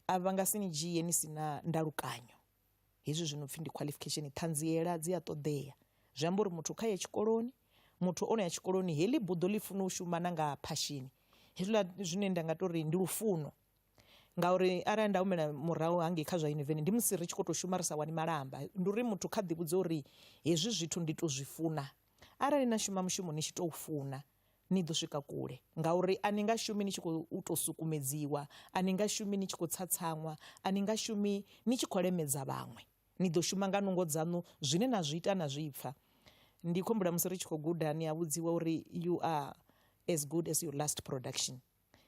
a vha nga si ni dzhie ni si na ndalukanyo. hezwi zwi no pfhi ndi qualification ṱhanziela dzi a ṱoḓea zwi amba uri muthu kha ye tshikoloni muthu o no ya tshikoloni heḽi buḓo ḽi funa u shuma na nga phashini hezwiḽa zwine nda nga tori ndi lufuno ngauri arali nda humela murahu hangei kha zwa yuniveni ndi musi ri tshi khou tou shuma ri sa wani malamba ndi uri muthu kha ḓivhudze uri hezwi zwithu ndi to zwi funa arali na shuma mushumo ni tshi tou funa Ni ḓo swika kule, ngauri a ni nga shumi ni tshi khou tou sukumedziwa, a ni nga shumi ni tshi khou tsatsaṅwa, a ni nga shumi ni tshi khou lemedza vhaṅwe. Ni ḓo shuma nga nungo dzaṋu, zwine na zwi ita na zwi pfa. Ndi khou humbula musi ri tshi khou guda, ni a vhudziwa uri you are as good as your last production.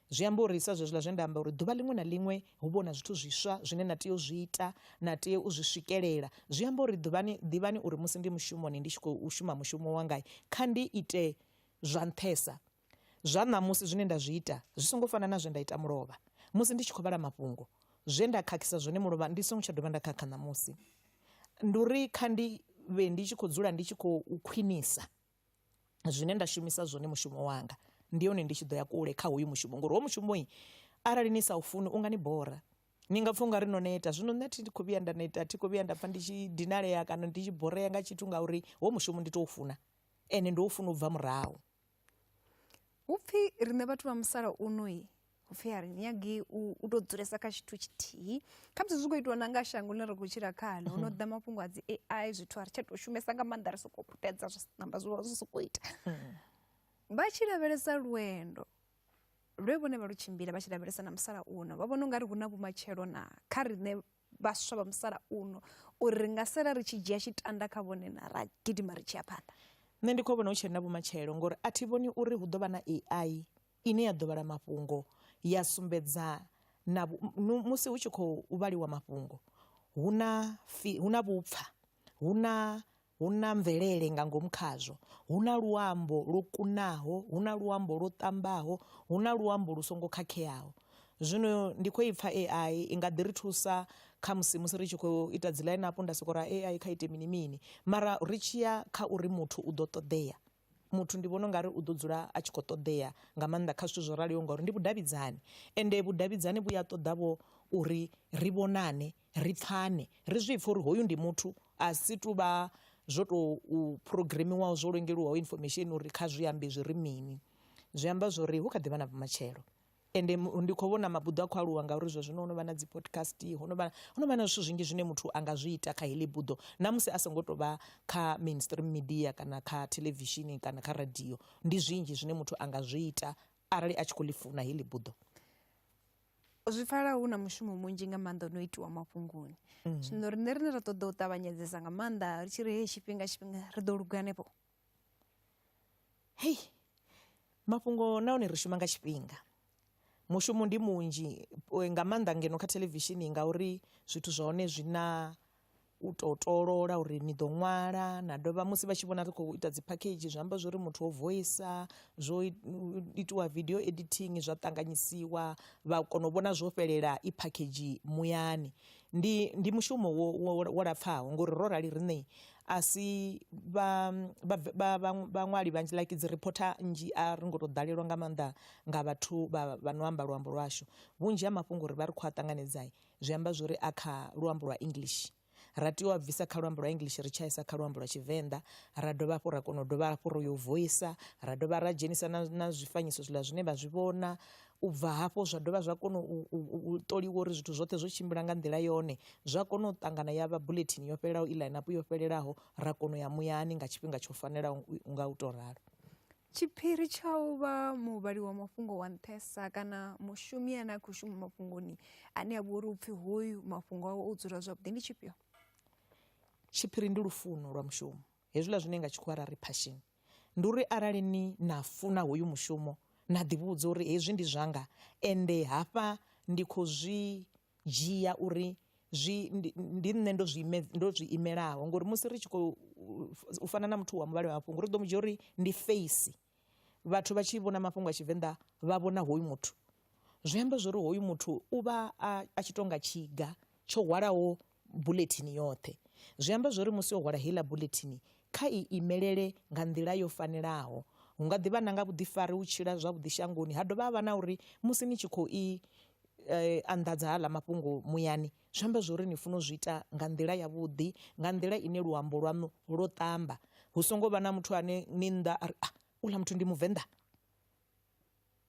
Zwi amba uri sa zwezwiḽa zwe nda amba uri ḓuvha ḽiṅwe na ḽiṅwe hu vha hu na zwithu zwiswa zwine na tea u zwi ita, na tea u zwi swikelela. Zwi amba uri ḓuvhani, ḓivhani uri musi ndi mushumoni ndi tshi khou shuma mushumo wanga, kha ndi ite zwa nṱhesa zwa ṋamusi zwine nda zwi ita zwi songo fana na zwe nda ita mulovha. Musi ndi tshi khou vhala mafhungo, zwe nda khakhisa zwone mulovha ndi songo tsha dovha nda khakha ṋamusi. Ndi uri kha ndi vhe ndi tshi khou dzula ndi tshi khou khwinisa. zwine nda shumisa zwone mushumo wanga ndi hone ndi tshi ḓo ya kule kha hoyu mushumo ngori ho mushumoi arali ni sa u funi unga ni bora ni nga pfha ungari no neta zwino nṋe thi khou vhuya nda neta thi khou vhuya nda pfha ndi tshi dinalea kana ndi tshi borea nga tshithu ngauri ho mushumo ndi tou funa ende ndo u funa u bva murahu hupfhi riṋe vhathu vha musalauno upfhi a ri nyagi u tou dzulesa kha tshithu tshithihi khamusi zwi khou itiwa na nga shango ḽine ri khou tshila khalo ho no ḓa mafhungo a dzi ai zwithu a ri tsha tou shumesa nga maanḓa ri sokou putedza zwi namba zwi vha zwi sokou ita vha tshi lavhelesa lwendo lwe vhone vha lu tshimbila vha tshi lavhelesa na musalauno vha vhona u nga ri hu na vhumatshelo na kha riṋe vhaswa vha musalauno uri ri nga sala ri tshi dzhia tshitanda kha vhone na ra gidima ri tshi ya phanḓa nṋe ndi khou vhona hu tshena vhumatshelo ngori a thi vhoni uri hu ḓo vha na ai ine ya ḓo vhala mafhungo ya sumbedza na musi hu tshi khou vhaliwa mafhungo hu na fi hu na vhupfa hu na hu na mvelele nga ngomu khazwo hu na luambo lwo kunaho hu na luambo lwo ṱambaho hu na luambo lu songo khakheaho zwino ndi khou ipfa ai i nga ḓi ri thusa kha musi musi ri tshi khou ita dzi ḽaini apo nda soko ra ai kha ite mini mini mara ri tshiya kha uri muthu u ḓo ṱoḓea muthu ndi vhona ungari u ḓo dzula a tshi kho ṱoḓea nga maanḓa kha zwithu zwo raliho ngauri ndi vhudavhidzani ende vhudavhidzani vhu ya ṱoḓa vho uri ri vhonane ri pfhane ri zwi pfhe uri hoyu ndi muthu a si tu vha zwo tou phurogiremiwaho zwo lengeliwaho information uri kha zwi ambe zwi ri mini zwi amba zwori hu kha ḓi vha na vhumatshelo. ende ndi khou vhona mabuḓo a khou aluwa ngauri zwa zwino ho no vha na dzi podcast ho no vha ho no vha na zwithu zwinzhi zwine muthu a nga zwi ita kha heḽi buḓo na musi a songo to vha kha mainstream media kana kha theḽevishini kana kha radio ndi zwinzhi zwine muthu a nga zwi ita arali a tshi kho ḽi funa heḽi buḓo. Zwi pfala hu na mushumo munzhi nga maanḓa no itiwa mafhungoni mm. zwino riṋe rine ra ṱoḓa u ṱavhanyedzesa nga maanḓa ri tshi ri heyi tshifhinga tshifhinga ri ḓo luga hanefho hei mafhungo na hone ri shuma nga tshifhinga mushumo ndi munzhi eh, nga maanḓa ngeno kha theḽevishini ngauri zwithu zwa hone zwi na u to tolola uri ni ḓo ṅwala na dovha musi vha tshi vhona ri khou ita dzi phakhedzhi zwi amba zwo ri muthu o voisa zwo i- u- itiwa video editing zwa ṱanganyisiwa vha kona u vhona zwo fhelela i phakhedzhi muyani Ndi, ndi mushumo wo, wo, wo lapfaho ngori ro rali riṋe a si vhaṅwali vhanzhi like dzi reporter nnzhi a ri ngo tou ḓalelwa nga maanḓa nga vhathu vha no amba luambo lwashu vhunzhi ha mafhungo uri vha ri khou a ṱanganedzai zwi amba zwori a kha luambo lwa english ra tea u a bvisa kha luambo lwa english ri tshaisa kha luambo lwa tshivenḓa ra dovha hafhu ra kona u dovha hafhu ro yo voisa ra dovha ra dzhenisa na zwifanyiso zwiḽa zwine vha zwi vhona u bva hafho zwa dovha zwa kona u ṱoliwa uri zwithu zwoṱhe zwo tshimbila nga nḓila yone zwa kona u ṱangana ya vha bulethini yo fhelelaho i ḽainapu yo fhelelaho ra kona u ya muyani nga tshifhinga tsho fanelaho nga u tou ralo tshiphiri tsha u vha muvhali wa mafhungo wa nṱhesa kana mushumi ane a khou shuma mafhungoni ane a vha uri u pfhi hoyu mafhungo awe o dzula zwavhuḓi ndi tshifhio tshiphiri ndi lufuno lwa mushumo Hezwiḽa zwine nga tshikhuwa ra ri passion ndi uri arali ni na funa hoyu mushumo na ḓivhudza uri hezwi ndi zwanga ende hafha ndi khou zwi dzhia uri zwi ndi nṋe ndo zwi ime ndo zwi imelaho ngori musi ri tshi khou fana na muthu wa muvhala wa mafhungo ri ḓo mu dzhia uri ndi feisi. vhathu vha tshi vhona mafhungo a Tshivenḓa vha vhona hoyu muthu zwi amba zwori hoyu muthu u vha a, a tshi tonga tshiga tsho hwalaho bulethini yoṱhe zwi amba zwori musi o hwala heiḽa bulethini kha i imelele nga nḓila yo fanelaho hu nga ḓivha na nga vhuḓifari u tshila zwavhuḓi shangoni ha dovha ha vha na uri musi ni tshi khou i eh, anḓadza haḽa mafhungo muyani Zwi amba zwori ni funa u zwi ita nga nḓila ya vhuḓi nga nḓila ine luambo lwaṋu lwo ṱamba hu songo vha na muthu ane ni nnḓa a ri a ah, uḽa muthu ndi muvenḓa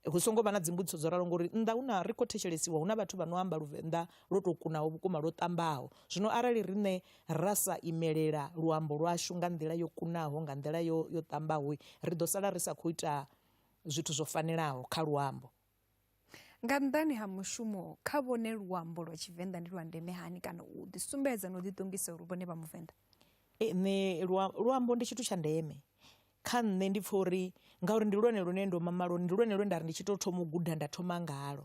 hu songo vha na dzimbudziso dzo ralo ngori nnḓa hu na ri khou thetshelesiwa hu na vhathu vha no amba luvenḓa lwo tou kunaho vhukuma lwo ṱambaho zwino arali riṋe ra sa imelela luambo lwashu nga nḓila yo kunaho nga nḓila yo yo ṱambaho ri ḓo sala ri sa khou ita zwithu zwo fanelaho kha luambo Nga nnḓani ha mushumo kha vhone luambo lwa Tshivenḓa ndi lwa ndeme hani kana u ḓi sumbedza na u ḓi ṱongisa uri vhone vha muvenḓa. Nṋe luambo ndi tshithu tsha ndeme kha nṋe ndi pfha uri ngauri ndi lwone lune ndo mama lwone ndi lwone lwe nda ri ndi tshi to thoma u guda nda thoma ngalo.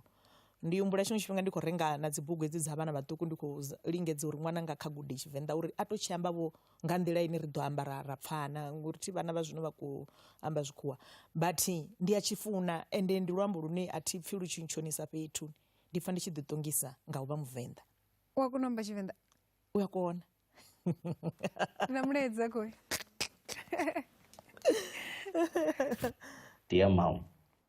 Ndi humbula tshiṅwe tshifhinga ndi kho renga na dzi bugu hedzi dza vhana vhaṱuku ndi kho lingedza uri ṅwananga kha gude Tshivenḓa uri a to tshi amba vho. nga nḓila ine ri ḓo amba ra ra pfana ngori thi vhana vha zwino vha khou amba zwikhuwa but ndi a tshi funa ende ndi luambo lune a thi pfhi lu tshi ntshonisa fhethu ndi pfha ndi tshi ḓi ṱongisa nga u vha muvenḓa u a kona u amba tshivenḓa u a kona na mulaedza khoi Dear mom,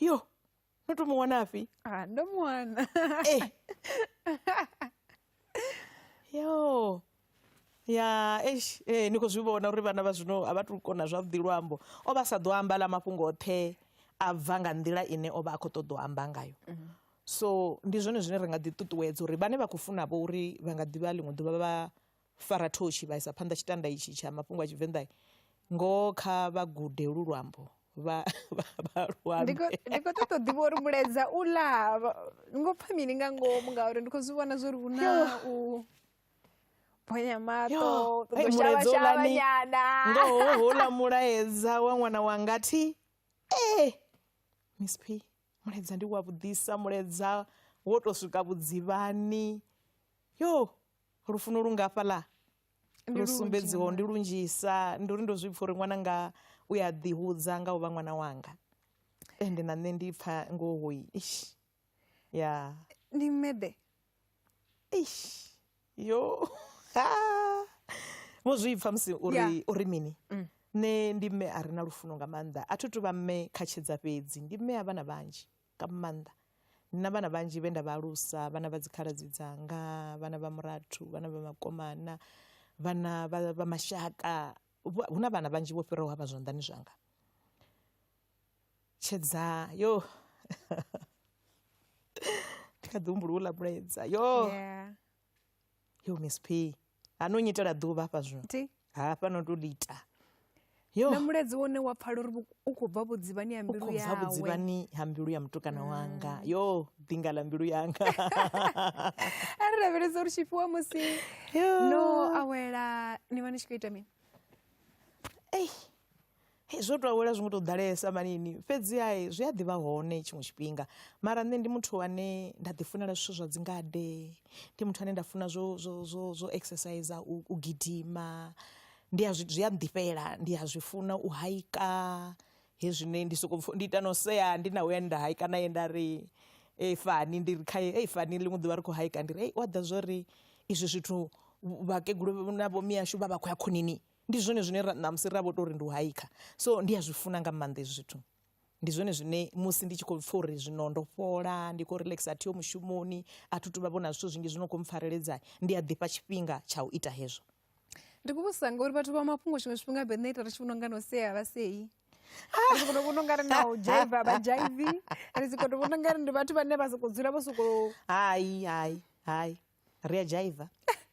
yo notumuwonafi Ah, ndomuona eh. yo ya eish eh, ni khou zwi vhona uri vhana vha zwino a vha tu kona zwavhuḓi luambo o vha sa ḓo amba ḽa mafhungo oṱhe a bva nga nḓila ine o vha a khou ṱoḓa u amba ngayo so ndi zwone zwine ri nga ḓi ṱuṱuwedza uri vhane vha khou funa vho uri vha nga ḓivha ḽiṅwe ḓuvha vha fara thoshi vha isa phanḓa tshitanda itshi tsha mafhungo a Tshivenḓa ngoho kha vha gude lu luambo vha vha luambe ndi khou ṱoḓa ḓivha uri mulaedza u ḽa ni ngo pfha mini nga ngomu ngauri ndi khou zwi vhona zwo ri hu na u bonya maṱo ṱoḓoshavashavanyana ngoho houḽa mulaedza wa ṅwana wanga thi ee eh, miss p mulaedza ndi wa vhuḓisa mulaedza wo to swika vhudzivhani yo lufuno lu ngafhaḽa lu sumbedziho ndi lunzhisa ndi uri ndo zwi pfha uri ṅwana nga u ya ḓi hudza nga u vha ṅwana wanga ende na nṋe ndi pfha ngoho ish ya ndi mmede ish yo vho zwi pfha musi uri uri mini mm. nṋe ndi mme a re na lufuno nga maanḓa a thi tu vha mme kha tshedza fhedzi ndi mme a vhana vhanzhi nga maanḓa. Ndi na vhana vhanzhi vhe nda vha alusa, vhana vha dzikhaladzi dzanga, vhana vha murathu, vhana vha makomana, vhana vha vha mashaka, hu na vhana vhanzhi vho fhiraho hafha zwanḓani zwanga. Tshedza yo thi kha ḓi humbula houḽa mulaedza yo. yo miss p ha no nyitela ḓuvha hafha zwino Ti. hafha no to lita yo na muledzi wone wa pfala uri vhu- u khou bva vhudzivhani ha u mbilu khou bva yawe vhudzivhani ha mbilu ya mutukana wanga yo ḓinga ḽa mbilu yanga a ri lavhelesa uri tshifhiwa musi Yo. no awela ni vha ni tshi khou ita mini Ei, zwo to awela zwi ngo to ḓalesa manini fhedzi ha zwi a ḓivha hone tshiṅwe tshifhinga mara nṋe ndi muthu ane nda ḓi funela zwithu zwa dzi ngade ndi muthu ane nda funa zwo zwo zwo zwo exercise u gidima ndi a zwi a ḓifhela ndi a zwi funa u hayika hezwine ndi soko ndi ita no sea ndi na we nda hayika na ye nda ri fani ndi ri khae ei fani ḽiṅwe ḓuvha ri kho hayika ndi ri wa ḓivha zwori izwi zwithu vhakegulu na vho mihashu vha vha khou ya khonani Ndi zwone zwine ra ṋamusi ra vho tou ri ndi u haikha so ndi a zwi funa nga maanḓa hezwi zwithu ndi zwone zwine musi ndi tshi khou pfha uri zwino ndo fhola ndi khou relaxa a thiho mushumoni a thi tu vha vhona zwithu zwinzhi zwi no khou mpfareledza ndi a ḓifha tshifhinga tsha u ita hezwo ndi khou vhusa ngauri vhathu vha mafhungo tshiṅwe tshifhinga vhe nṋe ita ri tshi vhona unga no sea vha sei ri sokoto vhona ungari na u jaiva vha jaivi ri sokoto vhona ungari ndi vhathu vhane vha sokou dzula vho sokou hai hai hai ri a dzhaiva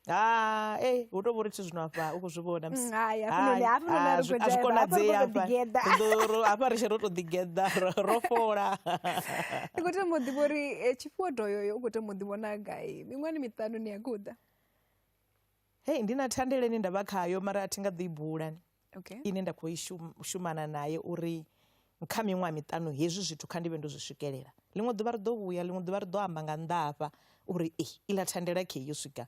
ha e hu tou vha uri thi zwino afha u khou zwi vhona mm, msizwi konadzei hafha ri tshe ro tou ḓigeḓa ro fola ndi khou temo ḓivha uri eh, tshifhiwa doyoyo u khou temo ḓi vhona gai miṅwani miṱanu ni ya guda hei ndi na thandeleni nda vha khayo mara a thi nga ḓo i bulani okay. ine nda khou i shumana naye uri kha miṅwaha miṱanu hezwi zwithu kha ndi vhe ndo zwi swikelela ḽiṅwe ḓuvha ri ḓo vhuya ḽiṅwe ḓuvha ri ḓo amba nga nnḓa hafha uri e iḽa thandela khe yo swika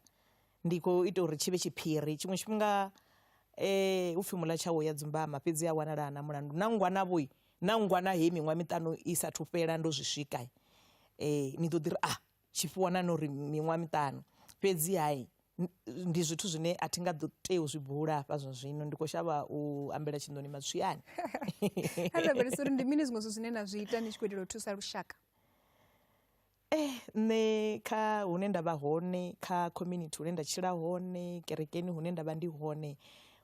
ndi khou ita uri tshi vhe tshiphiri tshiṅwe tshifhinga um upfhi mula tshawo ya dzumbama fhedzi a wanala na mulandu na ngwana vhoi na ngwana he miṅwaha miṱanu i sa thufhela ndo zwi swika um ni ḓo ḓi ri a ah, tshifhiwa na no ri miṅwaha miṱanu fhedzi hai ndi zwithu zwine a thi nga ḓo tea u zwi bula hafha zwa zwino ndi khou shavha u ambela tshinḓoni matswiani a lavhelesa uri ndi mini zwiṅwe zwithu zwine na zwi ita ni tshi khou itela u thusa lushaka eh nṋe kha hune nda vha hone kha community hune nda tshila hone kerekeni hune nda vha ndi hone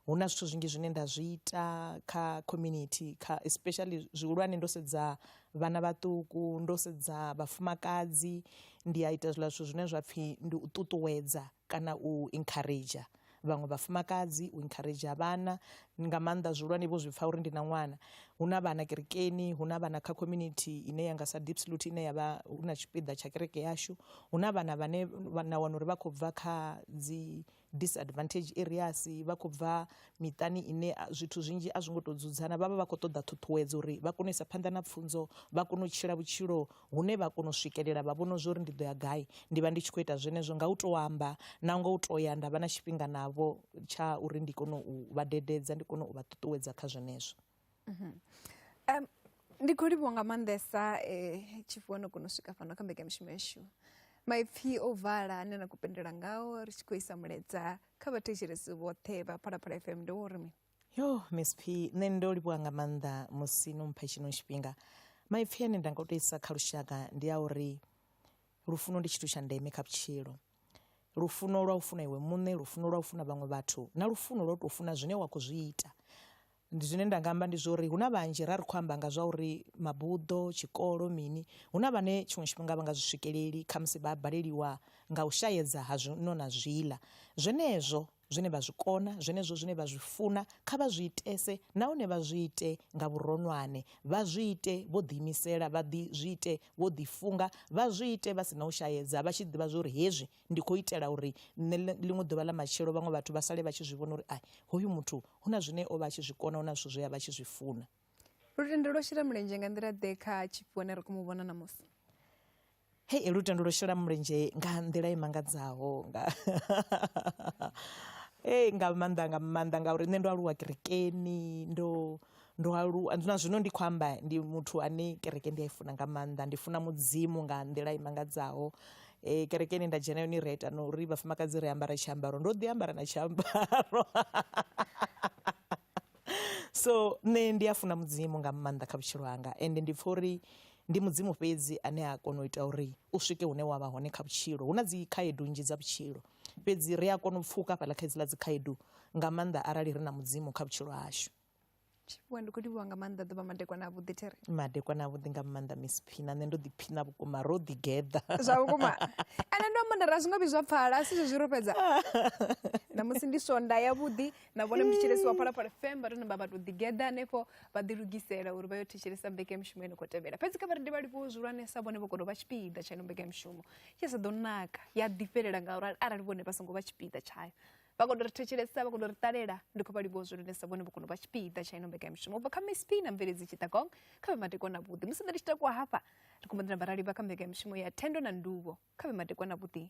Hu na zwithu zwinzhi zwine nda zwi ita kha community kha especially zwihulwane ndo sedza vhana vhaṱuku ndo sedza vhafumakadzi ndi a ita zwiḽa zwithu zwine zwapfhi ndi u ṱuṱuwedza kana u encourager vhaṅwe vhafumakadzi u encourager vhana nga maanḓa zwihulwane vho zwi pfha uri ndi na ṅwana. Hu na vhana kerekeni hu na vhana kha community ine yanga sa Diepsloot ine yavha hu na tshipiḓa tsha kereke yashu hu na vhana vhane na wana uri vha khou bva kha dzi disadvantage areas vha khou bva miṱani ine zwithu zwinzhi a zwi ngo tou dzudzana vha vha vha khou ṱoḓa ṱhuṱhuwedzo uri vha kone u isa phanḓa na pfunzo vha kone u tshila vhutshilo hune vha kona u swikelela vha vhona zwori ndi ḓo ya gai ndi vha ndi tshi khou ita zwenezwo nga u tou amba na nga u tou ya nda vha na tshifhinga navho tsha uri ndi kone u vha dededza ndi kone u vha ṱuṱuwedza kha zwenezwo Um, ndi khou livhuwa nga maanḓesa um tshi vuwa no kona u swika fhano kha mbekamishumo yashu maipfhi o vala ane na khou penndela ngao ri tshi khou isa muledza kha vhathetshelesi vhoṱhe vha phalaphala f m ndi wo uri mi yo miss p nṋe ndo livhuwa nga maanḓa musi no mpha tshino tshifhinga maipfhi ane nda nga u to isa kha lushaka ndi a uri lufuno ndi tshithu tsha ndeme kha vhutshilo lufuno lwa u funa iwe muṋe lufuno lwa u funa vhaṅwe vhathu na lufuno lwa u tou funa zwine wa khou zwi ita ndi zwine nda nga amba ndi zwa uri hu na vhanzhi ra ri khou amba nga zwa uri mabuḓo tshikolo mini hu na vhane tshiṅwe tshifhinga vha nga zwi swikeleli khamusi vha baleliwa nga u shayedza ha zwino na zwiḽa zwenezwo zwine vha zwi kona, zwenezwo zwine vha zwi funa, kha vha zwi itese nahone vha zwi ite nga vhuronwane. Vha zwi ite vho ḓiimisela, vha ḓi zwi ite vho ḓifunga, vha zwi ite vha si na u shaedza, vha tshi ḓivha zwa uri hezwi ndi khou itela uri nṋe ḽiṅwe ḓuvha ḽa matshelo vhaṅwe vhathu vha sale vha tshi zwi vhona uri ai, hoyu muthu hu na zwine o vha a tshi zwi kona, hu na zwithu zwe a vha a tshi zwi funa. Lutendo lwo shela mulenzhe nga nḓila-ḓe kha tshifhiwa ne ra khou mu vhona ṋamusi? Hei lutendo lwo shela mulenzhe nga nḓila i mangadzaho nga ee nga maanḓa nga maanḓa ngauri nṋe ndo aluwa kerekeni ndo ndo aluwa na zwino ndi khou amba ndi muthu ane kereke ndi a i funa nga maanḓa. Ndi funa Mudzimu nga nḓila i mangadzaho kereke ine nda dzhena yone ri a ita na uri vhafumakadzi ri ambara tshiambaro ndo ḓi ambara na tshiambaro. so nṋe ndi a funa mudzimu nga maanḓa kha vhutshilo hanga ende ndi pfha uri ndi mudzimu fhedzi ane a kona u ita uri u swike hune wa vha hone kha vhutshilo hu na dzi khaedu nnzhi dza vhutshilo fhedzi ri a kona u pfuka fhaḽa kha idziḽa dzi khaedu nga maanḓa arali ri na mudzimu kha vhutshilo hashu tshifhiwa ndi khou livhuwa nga maanḓa ḓuvha madekwana a vhuḓi there madekwana a vhuḓi nga maanḓa miss phina nṋe ndo ḓiphina vhukuma ro ḓigeḓa zwa vhukuma ende ndo amba ndari a zwi nga vhi zwa pfala a si zwezwi ro fhedza ṋamusi ndi sonda yavhuḓi na vhone mutshitshilesi wa phalaphala fm vha to namba vha to ḓigeḓa hanefho vha ḓilugisela uri vha yo thetshelesa mbekanyamushumo yo no khou tevhela fhedzi kha vha rindi vha livhuwo zwihulwanesa vhone vho kono vha tshipiḓa tsha ino mbekanyamushumo tshi sa ḓo naka ya ḓifhelela ngauri arali vhone vha songo vha tshipiḓa tshayo vha kono ri thetshelesa vha kono ri ṱalela ndi khou vha livhuwa zwihulwanesa vhone vho kono vha tshipiḓa tsha ino mbekanyamushumo ubva kha msp na mveledzi tshitakong kha vhe matekwa na vhuḓi musi ḓa ndi tshi takuwa hafha ri khou mbo ḓi namba ra livha kha mbekanyamushumo ya thendo na nduvho kha vhe matekwa na vhuḓi